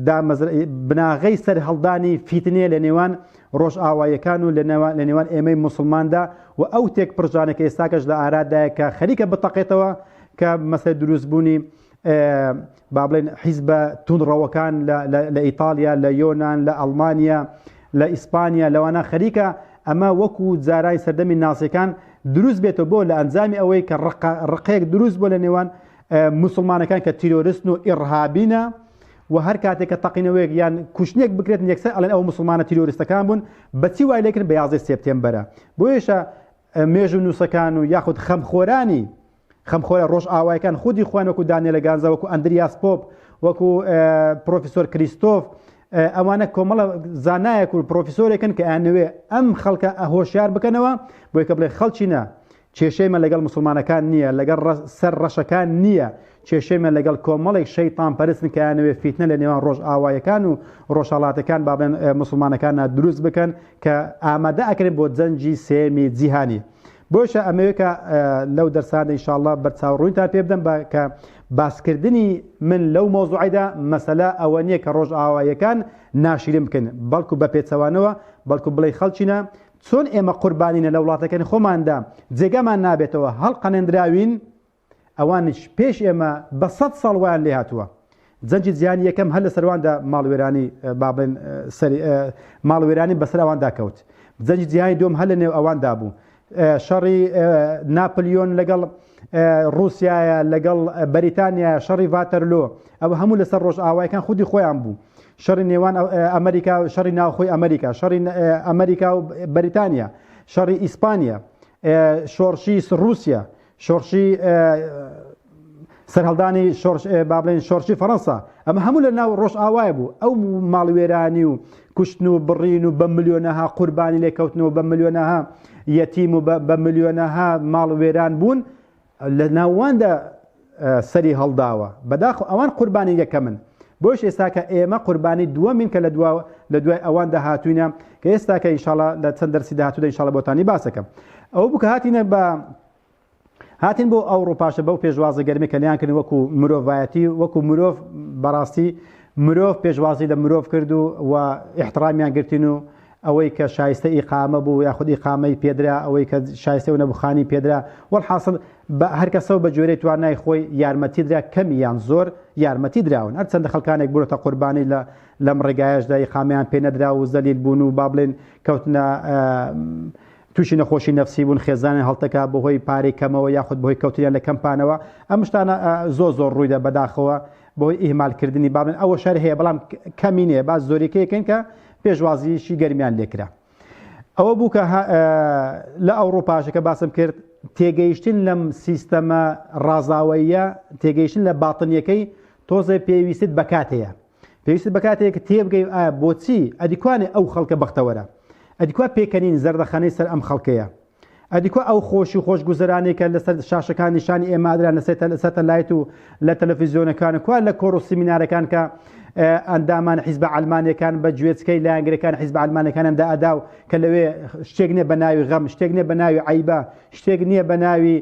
دامەزر بناغەی سەرهەڵدانی فیتنەیە لە نێوان ڕۆژئاوایەکان و لە نێوان لە نێوان ئێمەی موسڵماندا و ئەو تێکپڕژانە کە ئێستاکەش لە ئارادایە کە خەریکە بتەقێتەوە کە مەسەلەی دروست بوونی با بڵێن حیزبە توندڕەوەکان لە ئیتالیا لە یۆناان لە ئەڵمانیا لە ئیسپانیا لەوانە خەریکە ئەمە وەکو جارای سەردەمی ناسیەکان دروست بێتەوە بۆ لە ئەنجامی ئەوەی کە ڕقێک دروست بۆ لە نێوان مسلمانەکان کە تیرۆرستن و ئڕهابینە و هەر کاتێک کە تەقینەوەیەک یان کوشتنێک بکرێت یەکسەر ئەلەن ئەو مسلمانە تیرۆرستەکان بوون بەچی وای لەکرد بە یازدە سپتێمبەرە بۆیشە مێژ و نووسەکان و یاخود خەمخۆرانی خەمخۆرە ڕۆژئاوایەکان خودی خۆیان وەکو دانێلە گانزا وەکو ئەندریاس پۆپ وەکو پرۆفیسۆر کریستۆف ئەوانە کۆمەڵە زانایەک و پرۆفیسۆرێکن کە ئەنوێ ئەم خەڵکە ئەهۆشیار بکەنەوە بۆی کە بڵێ خەڵچینە کێشەیمە لەگەڵ مسلمانەکان نییە لەگەڵ سەر ڕەشەکان نییە کێشەیمە لەگەڵ کۆمەڵێک شەیتان پەرستن کەیانەوێ فیتنە لە نێوان ڕۆژ ئاوایەکان و ڕۆژهڵاتەکان بابێن مسلمانەکان دروست بکەن کە ئامادە ئەکرێن بۆ جەنجی سێمی جیهانی بۆیشە ئەمەوێت کە لەو دەرسانە ئیشاڵڵا بەرچاو ڕوویتان پێ بدەم بە کە باسکردنی من لەو مۆزوعیدا مەسەلا ئەوە نییە کە ڕۆژ ئاواییەکان ناشرین بکەن بەڵکو بە پێچەوانەوە بەڵکو بڵێ خەڵچینە چۆن ئێمە قوربانینە لە وڵاتەکەن خۆماندا جێگامان نابێتەوە هەڵقەنێنراوین ئەوانیش پێش ئێمە بە سەد ساڵ وایان لێ هاتووە جەنجی جیهانی یەکەم هەر لە سەرواندا ماڵوێرانی بابڵێن ماڵوێرانی بەسەر ئەواندا کەوت جەنجی جیهانی دوم هەر لە نێو ئەواندا بوو شەڕی ناپلیۆن لەگەڵ رووسایە لەگەڵ بەریتانیا شەڕی ڤاتەرلۆ ئەوە هەموو لەسەر ڕۆژ ئاوایەکان خودی خۆیان بوو شەڕی نێوان ئەمریکا و شەڕی ناوخۆی ئەمریکا شەڕی ئەمریکا و بەریتانیا شەڕی ئیسپانیا شۆڕشی رووسیا شۆڕشی سەرهەڵدانی شۆڕش با بڵێن شۆڕشی فەڕەنسا ئەمە هەموو لە ناو ڕۆژئاوای بوو ئەو ماڵوێرانی و کوشتن و بڕین و بە ملیۆنەها قوربانی لێکەوتنەوە بە ملیۆنەها یەتیم و بە ملیۆنەها ماڵوێران بوون لە ناواندا سەری هەڵداوە بەداخ ئەوان قوربانی یەکەمن بۆش ئێستاکە ئێمە قوربانی دووەمین کە لە دوا لە دوای ئەوان داهاتوینە کە ئێستا کە ئینشاڵا لە چەند دەرسی داهاتوودا ئینشاڵا بۆتانی باسەکەم ئەو بکە هاتینە بە هاتین بۆ ئەوڕوپاشە بەو پێشوازە گەرمی کە لیان کرد وەکو مرۆڤایەتی وەکو مرۆڤ بەڕاستی مرۆڤ پێشوازی لە مرۆڤ کرد و و احترامیان گرتین و ئەوەی کە شایستە ئیقامە بوو یاخود ئیقامەی پێدرا ئەوەی کە شایستە و نەبخانی پێدرا وەحاصل بە هەرکەسە و بە جۆرەی توانای خۆی یارمەتی درا کەمی یان زۆر یارمەتی دراون هەرچەندە خەکانێک بووە قوربانی لە لەم ڕێگایەشدا ئیقامەیان پێ نەدرا و زەلیل بوون و با بڵێن کەوتنە تووشی نەخۆشی نەفسی بوون خێزانیان هەڵتەکا بەهۆی پارەی کەمەوە یاخود بەهۆی کەوتنیان لە کەمپانەوە ئەم شتانە زۆر زۆر ڕوویدا بەداخەوە بەهۆی ئیهمالکردنی با بڵێن ئەوە شەر هەیە بەڵام کەمی نییە با زۆریکەیەکەین کە پێشوازیشی گەرمیان لێکرا ئەوە بوو کە لە ئەوروپاشەکە باسم کرد تێگەیشتن لەم سیستەمە ڕازاوەیە تێگەیشتن لە باتنیەکەی تۆزێ پێویستت بەکاتەیە پێویست بە کاتێک تێبگەی ئایا بۆچی ئەدیکوانێ ئەو خەڵکە بەختەوەرە ئەدیکوا پێکەنین زەردەخەنەی سەر ئەم خەڵکەیە ئەدیکوا ئەو خۆشی و خۆشگوزەرانێکە لەسەر شاشەکان نیشانی ئێمادران لەسێت لەسەتە لایت و لە تەلەفیزیۆنەکان کوا لە کۆڕ و سیمینارەکان کە ئەندامان حیزب ئەلمانەکان بە گوێچکەی لایەنگرەکان حیزب ئەلمانەکانم دا ئەدا و کە لەوێ شتێک نیە بە ناوی غەم شتێک نیە بە ناوی عیبە شتێک نییە بە ناوی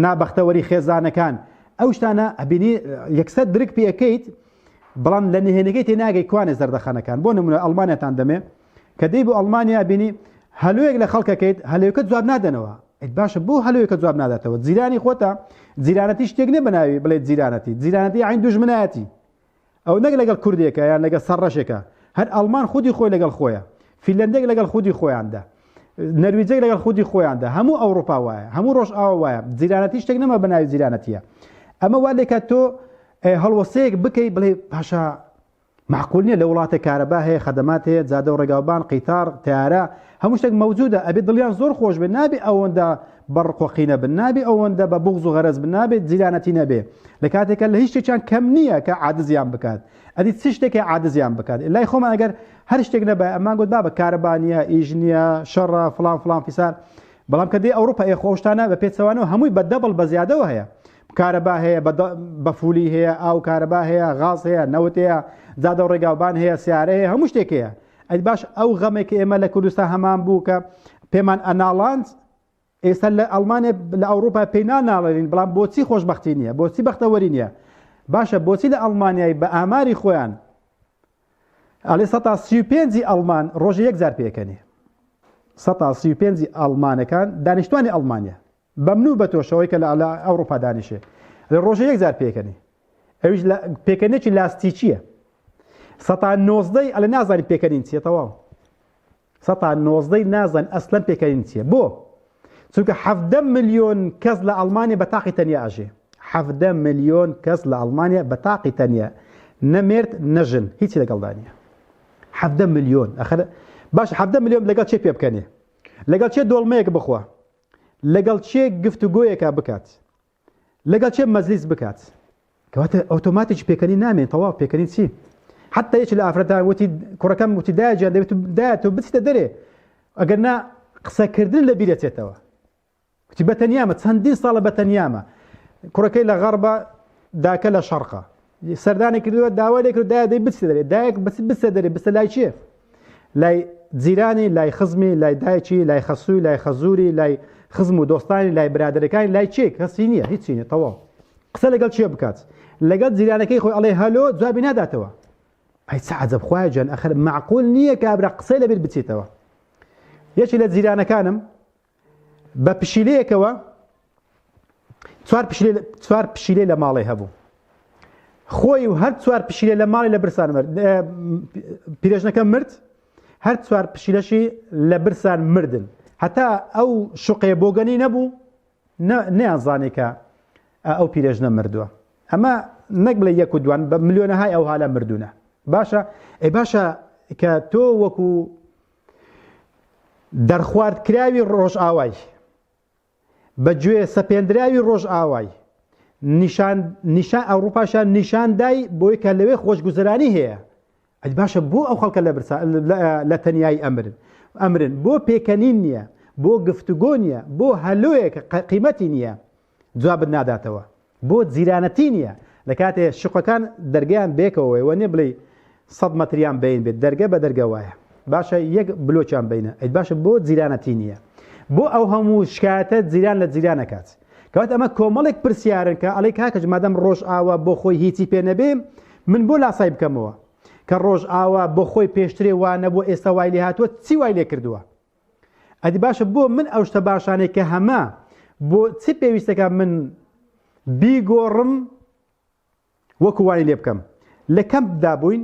نابەختەوەری خێزانەکان ئەو شتانە ئەبینی یەکسەر درک پێەکەیت بەڵام لە نهێنەکەی تێناگەی کوانێ زەردەخەنەکان بۆ نمونە ئەڵمانیاتان دەمێ کە دەی بۆ ئەڵمانیا بینی هەلوێک لە خەڵکەکەیت هەلوێکە جواب نادەنەوە ئەیت باشە بۆ هەلوێکە جواب ناداتەوە جیرانی خۆتە جیرانەتی شتێک نێ بەناوی بڵێ جیرانەتی جیرانەتی عین دوژمنایەتی ئەو نەک لەگەڵ کوردێکە یان لەگەڵ سەرڕەشێکە هەر ئەڵمان خودی خۆی لەگەڵ خۆیە فیلندێک لەگەڵ خودی خۆیاندا نەرویجێک لەگەڵ خودی خۆیاندا هەموو ئەوروپا وایە هەموو ڕۆژ ئاوا وایە جیرانەتی شتێک نەما بە ناوی جیرانەتیە ئەمە وا لێکات تۆ هەڵوەسەیەک بکەیت بڵێ پاشا معقول نیە لە وڵاتە کارەبا هەیە خەدەمات هەیە جادە و ڕێگاوبان قیتار تارە هەموو شتێک مەوجودە ئەبێ دڵیان زۆر خۆش بێ نابێ ئەوەندا بە ڕق و قینە بن نابێ ئەوەندە بە بوغز و غەرەز بن نابێت جیرانەتی نەبێ لە کاتێکە لە هیچ شتێکیان کەم نییە کە عادزیان بکات ئەدی چ شتێکی عادزیان بکات لای خۆمان ئەگەر هەر شتێک نەبای ئەمان گوت بابە کارەبانیە ئیش نییە شەڕە فلان فلان فیسار بەڵام کە دێ ئەوروپا ئێ خۆشتانە بە پێچەوانەوە هەمووی بە دەبڵ بە زیادەوە هەیە کارەبا هەیە بە فولی هەیە ئاو کارەبا هەیە غاز هەیە نەوت هەیە زادە و ڕێگاوبان هەیە سیارە هەیە هەموو شتێک هەیە ئەی باش ئەو غەمەی کە ئێمە لە کوردستان هەمان بوو کە پێمان ئەناڵاند ئێستا لە ئەڵمانیا لە ئەوروپا پێی ناناڵێنین بەڵام بۆچی خۆشببختی نییە بۆچی بەختەوەری نییە باشە بۆچی لە ئەڵمانیای بە ئاماری خۆیان ئەڵێ سە سی پێنجی ئەڵمان ڕۆژە یەک جار پێکەنی سە سی پێنجی ئەڵمانەکان دانیشتوانی ئەڵمانیا بەمنو بەتۆش ئەوەی کە لە ئەوڕوپا دانیشێ لە ڕۆژە یەک جار پێکەنی ئەویش پێکەنێکی لاستیکیە سەتا نۆزدەی ئەلە نازانی پێکەنین چیە تەواو سەتا نۆزدەی نازان ئەسلەن پێکەنین چیە بۆ چونکە حەفدە ملیۆن کەس لە ئەڵمانیا بە تاقی تەنیا ئەژێ حەفدە ملیۆن کەس لە ئەڵمانیا بە تاقی تەنیا نەمێرد نەژن هیچی لەگەڵدانە حەفدە ملیۆن ئەخر باش حەفدە ملیۆن لەگەڵ چێ پێ بکەنێ لەگەڵ چێ دۆڵمەیەک بخوا لەگەڵ کێ گفتوگۆیەکا بکات لەگەڵ کێ مەجلیس بکات کەواتە ئۆتۆماتیکی پێکەنی نامێن تەواو پێکەنی چی حتی یەکی لە ئافرەتان وتی کوڕەکەم وتی دایە جان دەبێت دایە تۆ بچیتە دەرێ ئەگەر نا قسەکردن لە بیرەچێتەوە وتی بەتەنیامە چەندین ساڵە بەتەنیامە کوڕەکەی لە غەڕبە داکە لە شەڕقە سەردانی کردووە داوای لێکرد دای دەی بچێ دەێت دایک بچ بچە دەێ بچە لای چێ لای جیرانی لای خزمی لای دایکی لای خەسووی لای خەزوری لای خزم و دۆستانی لای برادەکانی لای چێ کەسی نییە هیچی نیە تەواو قسە لەگەڵ چێ بکات لەگەڵ جیرانەکەی خۆی ئەڵێ هەلۆ جوابی ناداتەوە ئەی عجب خخوای جان ئەخر معقول نییە کابرا قسەی لەبیر بچێتەوە یەکی لە جیرانەکانم بە پشیلەیەکەوە چوار پشیلە چوار پشیلەی لە ماڵێ هەبوو خۆی و هەر چوار پشیلە لە ماڵی لە برسان مرد ئه، پیرێژنەکە مرد هەر چوار پشیلەشی لە برسان مردن هەتا ئەو شوقێ بۆگەنی نەبوو نە- نەیانزانێ کە ئه، ئەو پیرێژنە مردووە ئەمە نەک بڵێ یەک و دوان بە ملیۆنەهای ئەو هالە مردوونە باشە ئەی باشە کە تۆ وەکو دەرخواردکراوی ڕۆژئاوای بە گوێ سەپێندراوی ڕۆژئاوای نیشان نیشان ئەوروپاشان نیشاندای بۆی کە لەوێ خۆشگوزرانی هەیە ئەج باشە بۆ ئەو خەڵکە لە برسا لە تەنایی ئەمرن ئەمرن بۆ پێکەنین نییە بۆ گفتوگۆ نییە بۆ هەلویەکە قیمەتی نییە جوابت ناداتەوە بۆ جیرانەتی نیە لەکاتێ شوقەکان دەرگەیان بەیەکەوەی وەنیە بڵێی سەد مەتریان بەین بێت دەرگە بە دەرگە وایە باشە یەک بلۆکیان بینە ئەی باشە بۆ جیرانەتی نیە بۆ ئەو هەموو شکایەتە جیران لە جیرانەکات کەوات ئەمە کۆمەڵێک پرسیارن کە ئەڵی کاکەج مادەم ڕۆژ ئاوا بۆ خۆی هیچی پێ نەبێ من بۆ لاسای بکەمەوە کە ڕۆژ ئاوا بۆ خۆی پێشترێ وانە بۆ ئێستا وای لێ هاتووە چی وای لێ کردووە ئەدی باشە بۆ من ئەو شتە باشانەی کە هەمە بۆ چ پێویستەکە من بیگۆڕم وەکو وای لێ بکەم لە کەم دابووین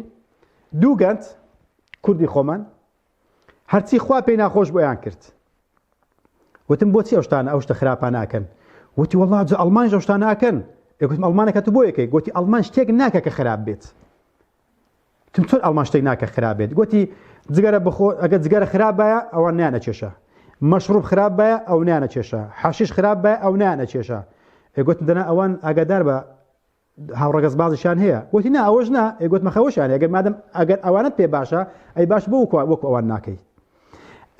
دوو گەنج کوردی خۆمان هەرچی خوا پێی ناخۆش بۆیان کرد وتم بۆچی ئەوشتانە ئەو شتە خراپە ناکەن وتی وڵا جە ئەلمان ژەشتانە ئەکەن ئەگوتم ئەلمانەکە تو بۆ یەکەی گوتی ئەلمان شتێک ناکە کە خراپ بێت تم چۆن ئەڵمان شتێک ناکە خراپ بێت گوتی جگەرە بخۆ ئەگە جگەرە خراپ باە ئەوان نیانە کێشە مەشڕوب خراپ باە ئەو نیانە کێشە حەشیش خراپ باە ئەو نیانە کێشە ئێگوتن دەنا ئەوان ئاگادار بە هاوڕگەز بازشان هەیە وتی نا ئەوەش نا ئێگوت مەخەوەشان ئەگەر مادەم ئەگەر ئەوانت پێ باشە ئەی باش بۆ وەک ئەوان ناکەیت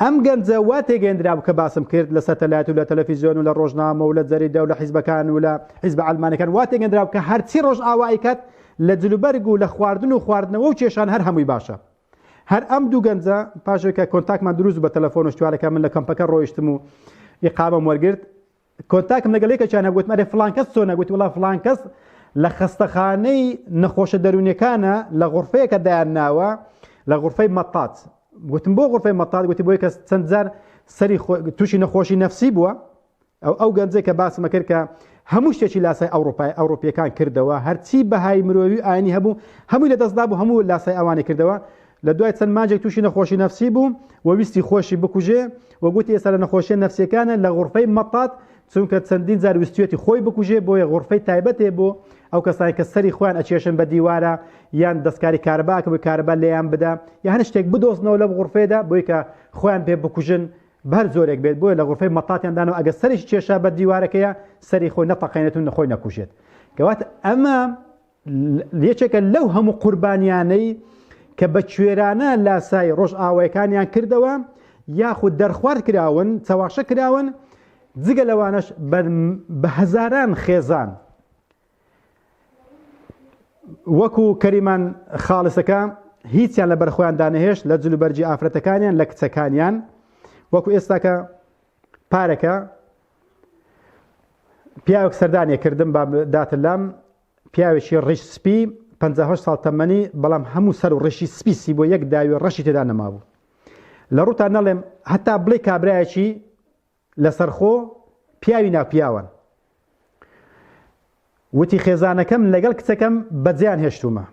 ئەم گەنجە وا تێگەیەندرابوو کە باسم کرد لە سەتەلایت و لە تەلەفیزیۆن و لە ڕۆژنامە و لە جەریدە و لە حیزبەکان و لە حیزبە عەلمانەکان وا تێگەندرابوو کە هەرچی ڕۆژئاوا ئەیکات لە جلوبەرگ و لە خواردن و خواردنەوە و کێشان هەر هەمووی باشە هەر ئەم دوو گەنجە پاشێکە کۆنتاکمان دروست بە تەلەفۆن و شتوارەکە من لە کەمپەکە ڕۆیشتم و ئیقامەم وەرگرت کۆنتاکم لەگەڵ یەکێکیان هەبوو گوتم ئەرێ فڵان کەس چۆنە گوتی وڵا فڵان کەس لە خەستەخانەی نەخۆشە دەروونیەکانە لە غرفەیەکە دایان ناوە لە غرفەی مەتات گوتم بۆ غرفەی مەتات گوتی بۆی کەس چەند جار سەری تووشی نەخۆشی نەفسی بووە ئەو ئەو گەنجێک کە باسمە کرد کە هەموو شتێکی لاسای ئەوروپای ئەوروپیەکان کردەوە هەرچی بەهای مرۆوی ئاینی هەبوو هەمووی لە دەستدا بوو هەموو لاسای ئەوانی کردەوە لە دوای چەند مانجێک تووشی نەخۆشی نەفسی بوو و ویستی خۆشی بکوژێ و گوتی ئێستا لە نەخۆشیە نەفسیەکانە لە غورفەی مەتات چونکە چەندین جار ویستویەتی خۆی بکوژێ بۆیە غورفەی تایبەت هەیە بۆ ئەو کەسانەی کە سەری خۆیان ئەچێشن بە دیوارە یان دەستکاری کارەبا کە بە کارەبا لێیان بدا یا هەر شتێک بدۆزنەوە لەم غورفەیەدا بۆی کە خۆیان پێ بکوژن بەر زۆرێک بێت بۆیە لە غورفەی مەتاتیان دانەوە ئەگە سەریش کێشا بە دیوارەکەیە سەری خۆی نەتەقێنێت و نەخۆی نەکوژێت گەوات ئەمە یەکێکە لەو هەموو قوربانیانەی کە بە کوێرانە لاسای ڕۆژئاوایەکانیان کردەوە یاخود دەرخوارد کراون چەواشە کراون جگە لەوانش بە هەزاران خێزان وەکو کەریمان خاڵسەکە هیچیان لە بەرخۆیان دانەهێشت لە جلوبەرجی ئافرەتەکانیان لە کچەکانیان وەکو ئێستاکە پارەکە پیاوەک سەردانێ کردم بە داتلام پیاوێکی ڕیش سپی پەنجا و هەشت ساڵ تەمەنی بەڵام هەموو سەر و ڕیشی سپی سی بۆ یەک داوی ڕەشی تێدا نەمابوو لە ڕووتان نەڵێم هەتا بڵێ کابرایەکی لەسەرخۆ پیاوی ناپیاوان وتی خێزانەکەم لەگەڵ کچەکەم بەجیان هێشتومە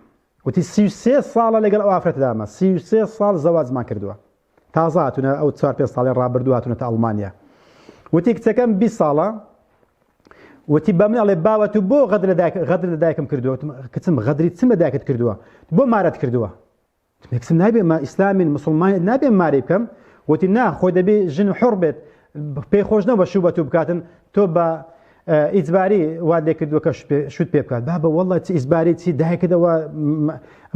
وتی سی سێ ساڵە لەگەڵ ئەو ئافرەتدامە سی سێ ساڵ زەواجمان کردووە تازە هاتونە ئەو چوار پێ ساڵی ڕابردوو هاتونەتە ئەڵمانیا وتی کچەکەم بی ساڵە وتی بە من ئەڵێ باوە تو بۆ غەدر لە دایک غەدر لە دایکم کردووە کچم غەدری چم لە دایکت کردووە بۆ مارەت کردووە کچم نابێ ما ئیسلامین مسلمان نابێ ماری بکەم وتی نا خۆی دەبێ ژن حڕ بێت پێی خۆش نەبە شوو بە تو بکاتن تۆ بە ئیجباری وات لێ کردووە کە شوت پێ بکات با بە وەڵە چ ئیزباری چی دایکردەوە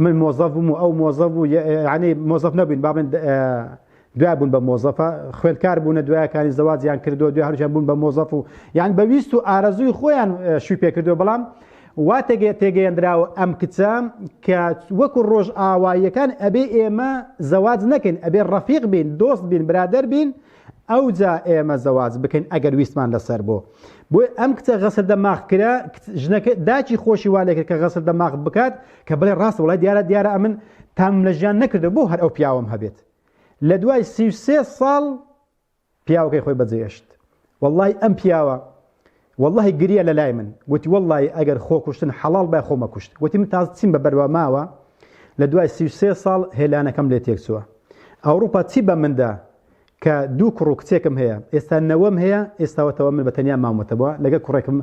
من مۆزەف بووم و ئەو مۆزە بوو یعنی مۆزەف نەبووین با من دوای بوون بە مۆزەفە خوێندکار بوونە دوایەکانی زەواجیان کردو دوای هەرشیان بوون بە مۆزەف و یان بەویست و ئارەزووی خۆیان شوی پێکردو بەڵام وا تێگەێت تێگەیەندراوە ئەم کچە کە وەکو ڕۆژ ئاواییەکان ئەبێ ئێمە زەواج نەکەین ئەبێ ڕەفیق بین دۆست بین برادەر بین ئەوجا ئێمە زەواج بکەین ئەگەر ویستمان لەسەر بۆ بۆی ئەم کچە غەسل دەماغ کرا ژنەکە داچی خۆشی وا لێکرد کە غەسل دەماغ بکات کە بڵێ ڕاست وڵای دیارە دیارە ئەمن تام لە ژیان نەکردە بۆ هەر ئەو پیاوم هەبێت لە دوای سی ساڵ پیاوەکەی خۆی بەجێشت واللهی ئەم پیاوە وەللەهی گریا لەلای من گۆتی وەللەهی ئەگەر خۆ کوشتن حەڵاڵ بای خۆمە کوشت گۆتی من تازە چیم بە بەروا ماوە لە دوای سی و سێ ساڵ هێلانەکەم لێ تێک چوە ئەوڕوپا چی بە من دا کە دوو کوڕ و کچێکم هەیە ئێستا نەوەم هەیە ئێستاوەتەوە من بە تەنیا مامەتەوە لەگەل کوڕێکم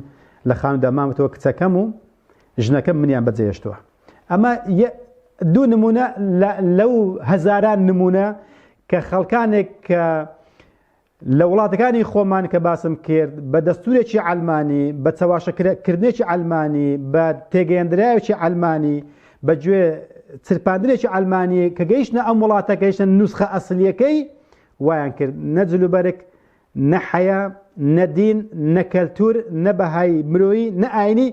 لە خانودا مامەتەوە کچەکەم و ژنەکەم منیان بە جێهێشتوە ئەمە یە دوو نمونە لە لەو هەزاران نمونە کە خەڵکانێک کە لە وڵاتەکانی خۆمان کە باسم کرد بە دەستورێکی عەلمانی، بە چەواشە کردنێکی عەلمانی، بە تێگەیەندراوێکی عەلمانی، بە گوێ چرپاندنێکی عەلمانی کە گەیشتنە ئەم وڵاتە گەیشتە نوسخە ئەسلیەکەی وایان کرد نە جلوبەرگ نە حەیا نە دین نە کەلتور نە بەهای مرۆیی نە ئاینی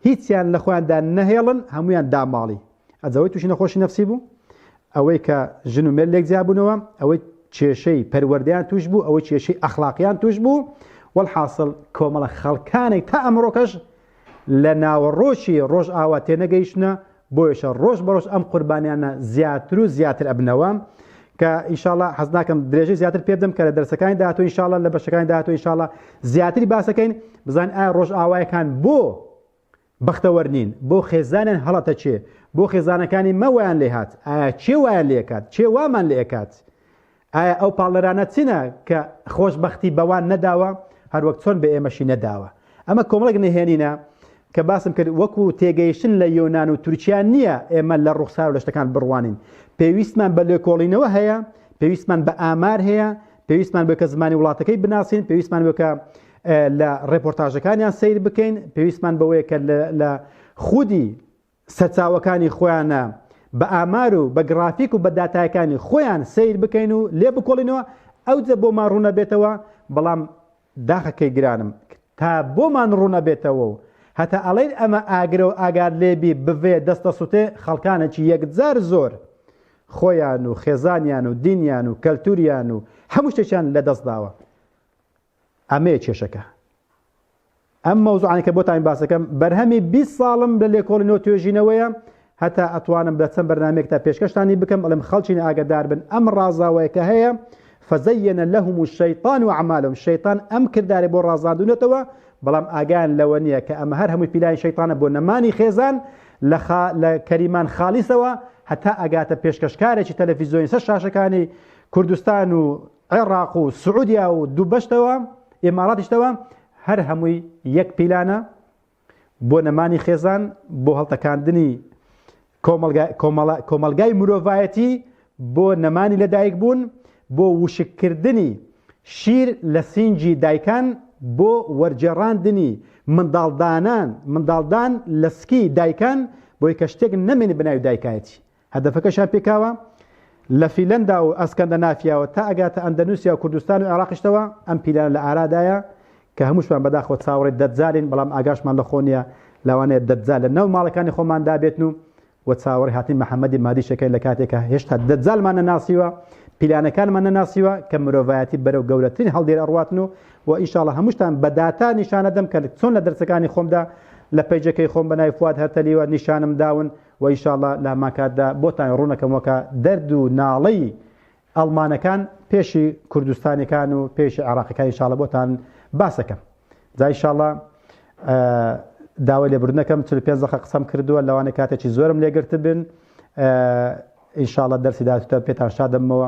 هیچیان لە خۆیاندا نەهێڵن هەموویان داماڵی ئەجەوەی تووشی نەخۆشی نەفسی بوو ئەوەی کە ژن و مێر لێک جیابوونەوە ئەوەی کێشەی پەروەردەیان توش بوو ئەوەی کێشەی ئەخلاقیان توش بوو والحاصل کۆمەڵە خەڵکانێک تا ئەمڕۆکەش لە ناوەڕۆکی ڕۆژئاوا تێنەگەیشتنە بۆیەشە ڕۆژ بە ڕۆژ ئەم قوربانیانە زیاتر و زیاتر ئەبنەوە کە ئیشاڵە حەز ناکەم درێژەی زیاتر پێ بدەم کە لە دەرسەکانی داهاتوو ئیشاڵە لە بەشەکانی داهاتوو ئیشاڵە زیاتری باسەکەین بزان ئایا ڕۆژ ئاوایەکان بۆ بەختەوەەر نین بۆ خێزانیان هەڵەتە چێ بۆ خێزانەکانی مەوەیان لێهات ئایا چێ وایە لێکات چێ وامان لێکات ئایا ئەو پاڵنەرانە چینە کە خۆشببختی بەوان نەداوە هەروەک چۆن بە ئێمەشی نەداوە ئەمە کۆمەڵێک نهێنینە کە باسم کرد وەکو تێگەیشتن لە یۆناان و تورکیا نییە ئێمە لە ڕوخسار لە شتەکان بڕوانین پێویستمان بە لێکۆڵینەوە هەیە پێویستمان بە ئامار هەیە پێویستمان بکە زمانی وڵاتەکەی بناسین پێویستمان بکە لە ڕێپۆرتاژەکانیان سیر بکەین پێویستمان بەوەیە کە لە خودی سەرچاوەکانی خۆیانە بە ئامار و بە گڕافیک و بە داتایەکانی خۆیان سەیر بکەین و لێ بکۆڵینەوە ئەوجە بۆمان ڕوون ئەبێتەوە، بەڵام داخە کەی گرانم تا بۆمان ڕوون ئەبێتەوە و هەتا ئەڵێین ئەمە ئاگرە و ئاگات لێ بی بڤێ دەست ئەسوتێ خەڵکانێکی یەکجار زۆر خۆیان و خێزانیان و دینیان و کەلتوریان و هەموو شتێکیان لە دەست داوە. ئەمەیە کێشەکە. ئەم مەوزوعانە کە بۆتان باس دەکەم بەرهەمی 20 ساڵم لە لێکۆڵی نۆ توێژینەوەیە هەتا ئەتوانم بە چەند بەرنمێکتا پێشکەشتانی بکەم ئەڵم خەڵچین ئاگدار بن ئەم ڕازاوەیە کە هەیە فەزەیەنە لەهم و شەیتان و عمالم شەیتان ئەم کردارێ بۆ ڕازاندونەتەوە بەڵام ئاگان لەوە نییە کە ئەمە هەر هەمووی پیلانی شەیتانە بۆ نەمانی خێزان لە لە کەریمان خالیسەوە هەتا ئەگاتە پێشکەشکارێکی تەلەفیزیۆنی سەر شاشەکانی کوردستان و عێڕاق و سعودیا و دوو بەشتەوە ئیماراتیشتەوە هەر هەمووی یەک پیلانە بۆ نەمانی خێزان بۆ هەڵتەکاندنی کۆمەلگای مرۆڤایەتی بۆ نەمانی لەدایک بوون بۆ وشککردنی شیر لە سینجی دایکان بۆ وەرجێڕاندنی منداڵدانان منداڵدان لە سکی دایکان بۆی کە شتێک نەمێنی بەناوی دایکایەتی هەدەفەکەشیان پێکاوە لە فیلەندا و ئەسکەندەنافیاوە تا ئەگاتە ئەندەنوسیا و کوردستان و عێراقیشتەوە، ئەم پیلانە لە ئارادایە کە هەمووشمان بەداخەوە چاوەڕێی دەجالین بەڵام ئاگاشمان لە خۆ نیە، لەوانەیە دەجال لە ناو ماڵەکانی خۆماندا بێتن و و چاوەڕێی هاتنی محمدی مادیشەکەین لە کاتێک کە هێشتا دەجالمان نەناسیوە پیلانەکانمان نەناسیوە کە مرۆڤایەتی بەرەو گەورەترین هەڵدێر ئەڕواتن و و ئینشاڵا هەمووشتان بە داتا نیشانەدەم کە چۆن لە دەرسەکانی خۆمدا لە پەیجەکەی خۆم بە ناوی فواد هەرتەلیوە نیشانم داون و وە ئیشاڵا لە هەمان کاتدا بۆتان ڕوونەکەم وەکا دەرد و ناڵەی ئەڵمانەکان پێشی کوردستانیەکان و پێشی عێڕاقیەکان ئیشاڵا بۆتان باسەکەم جا ئیشاڵا داوای لێبوردنەکەم چل پێنج دەقە قسەم کردووە لەوانەیە کاتێکی زۆرم لێگرتبن ئیشاڵا دەرسی داهاتووتان پێتان شادەمەوە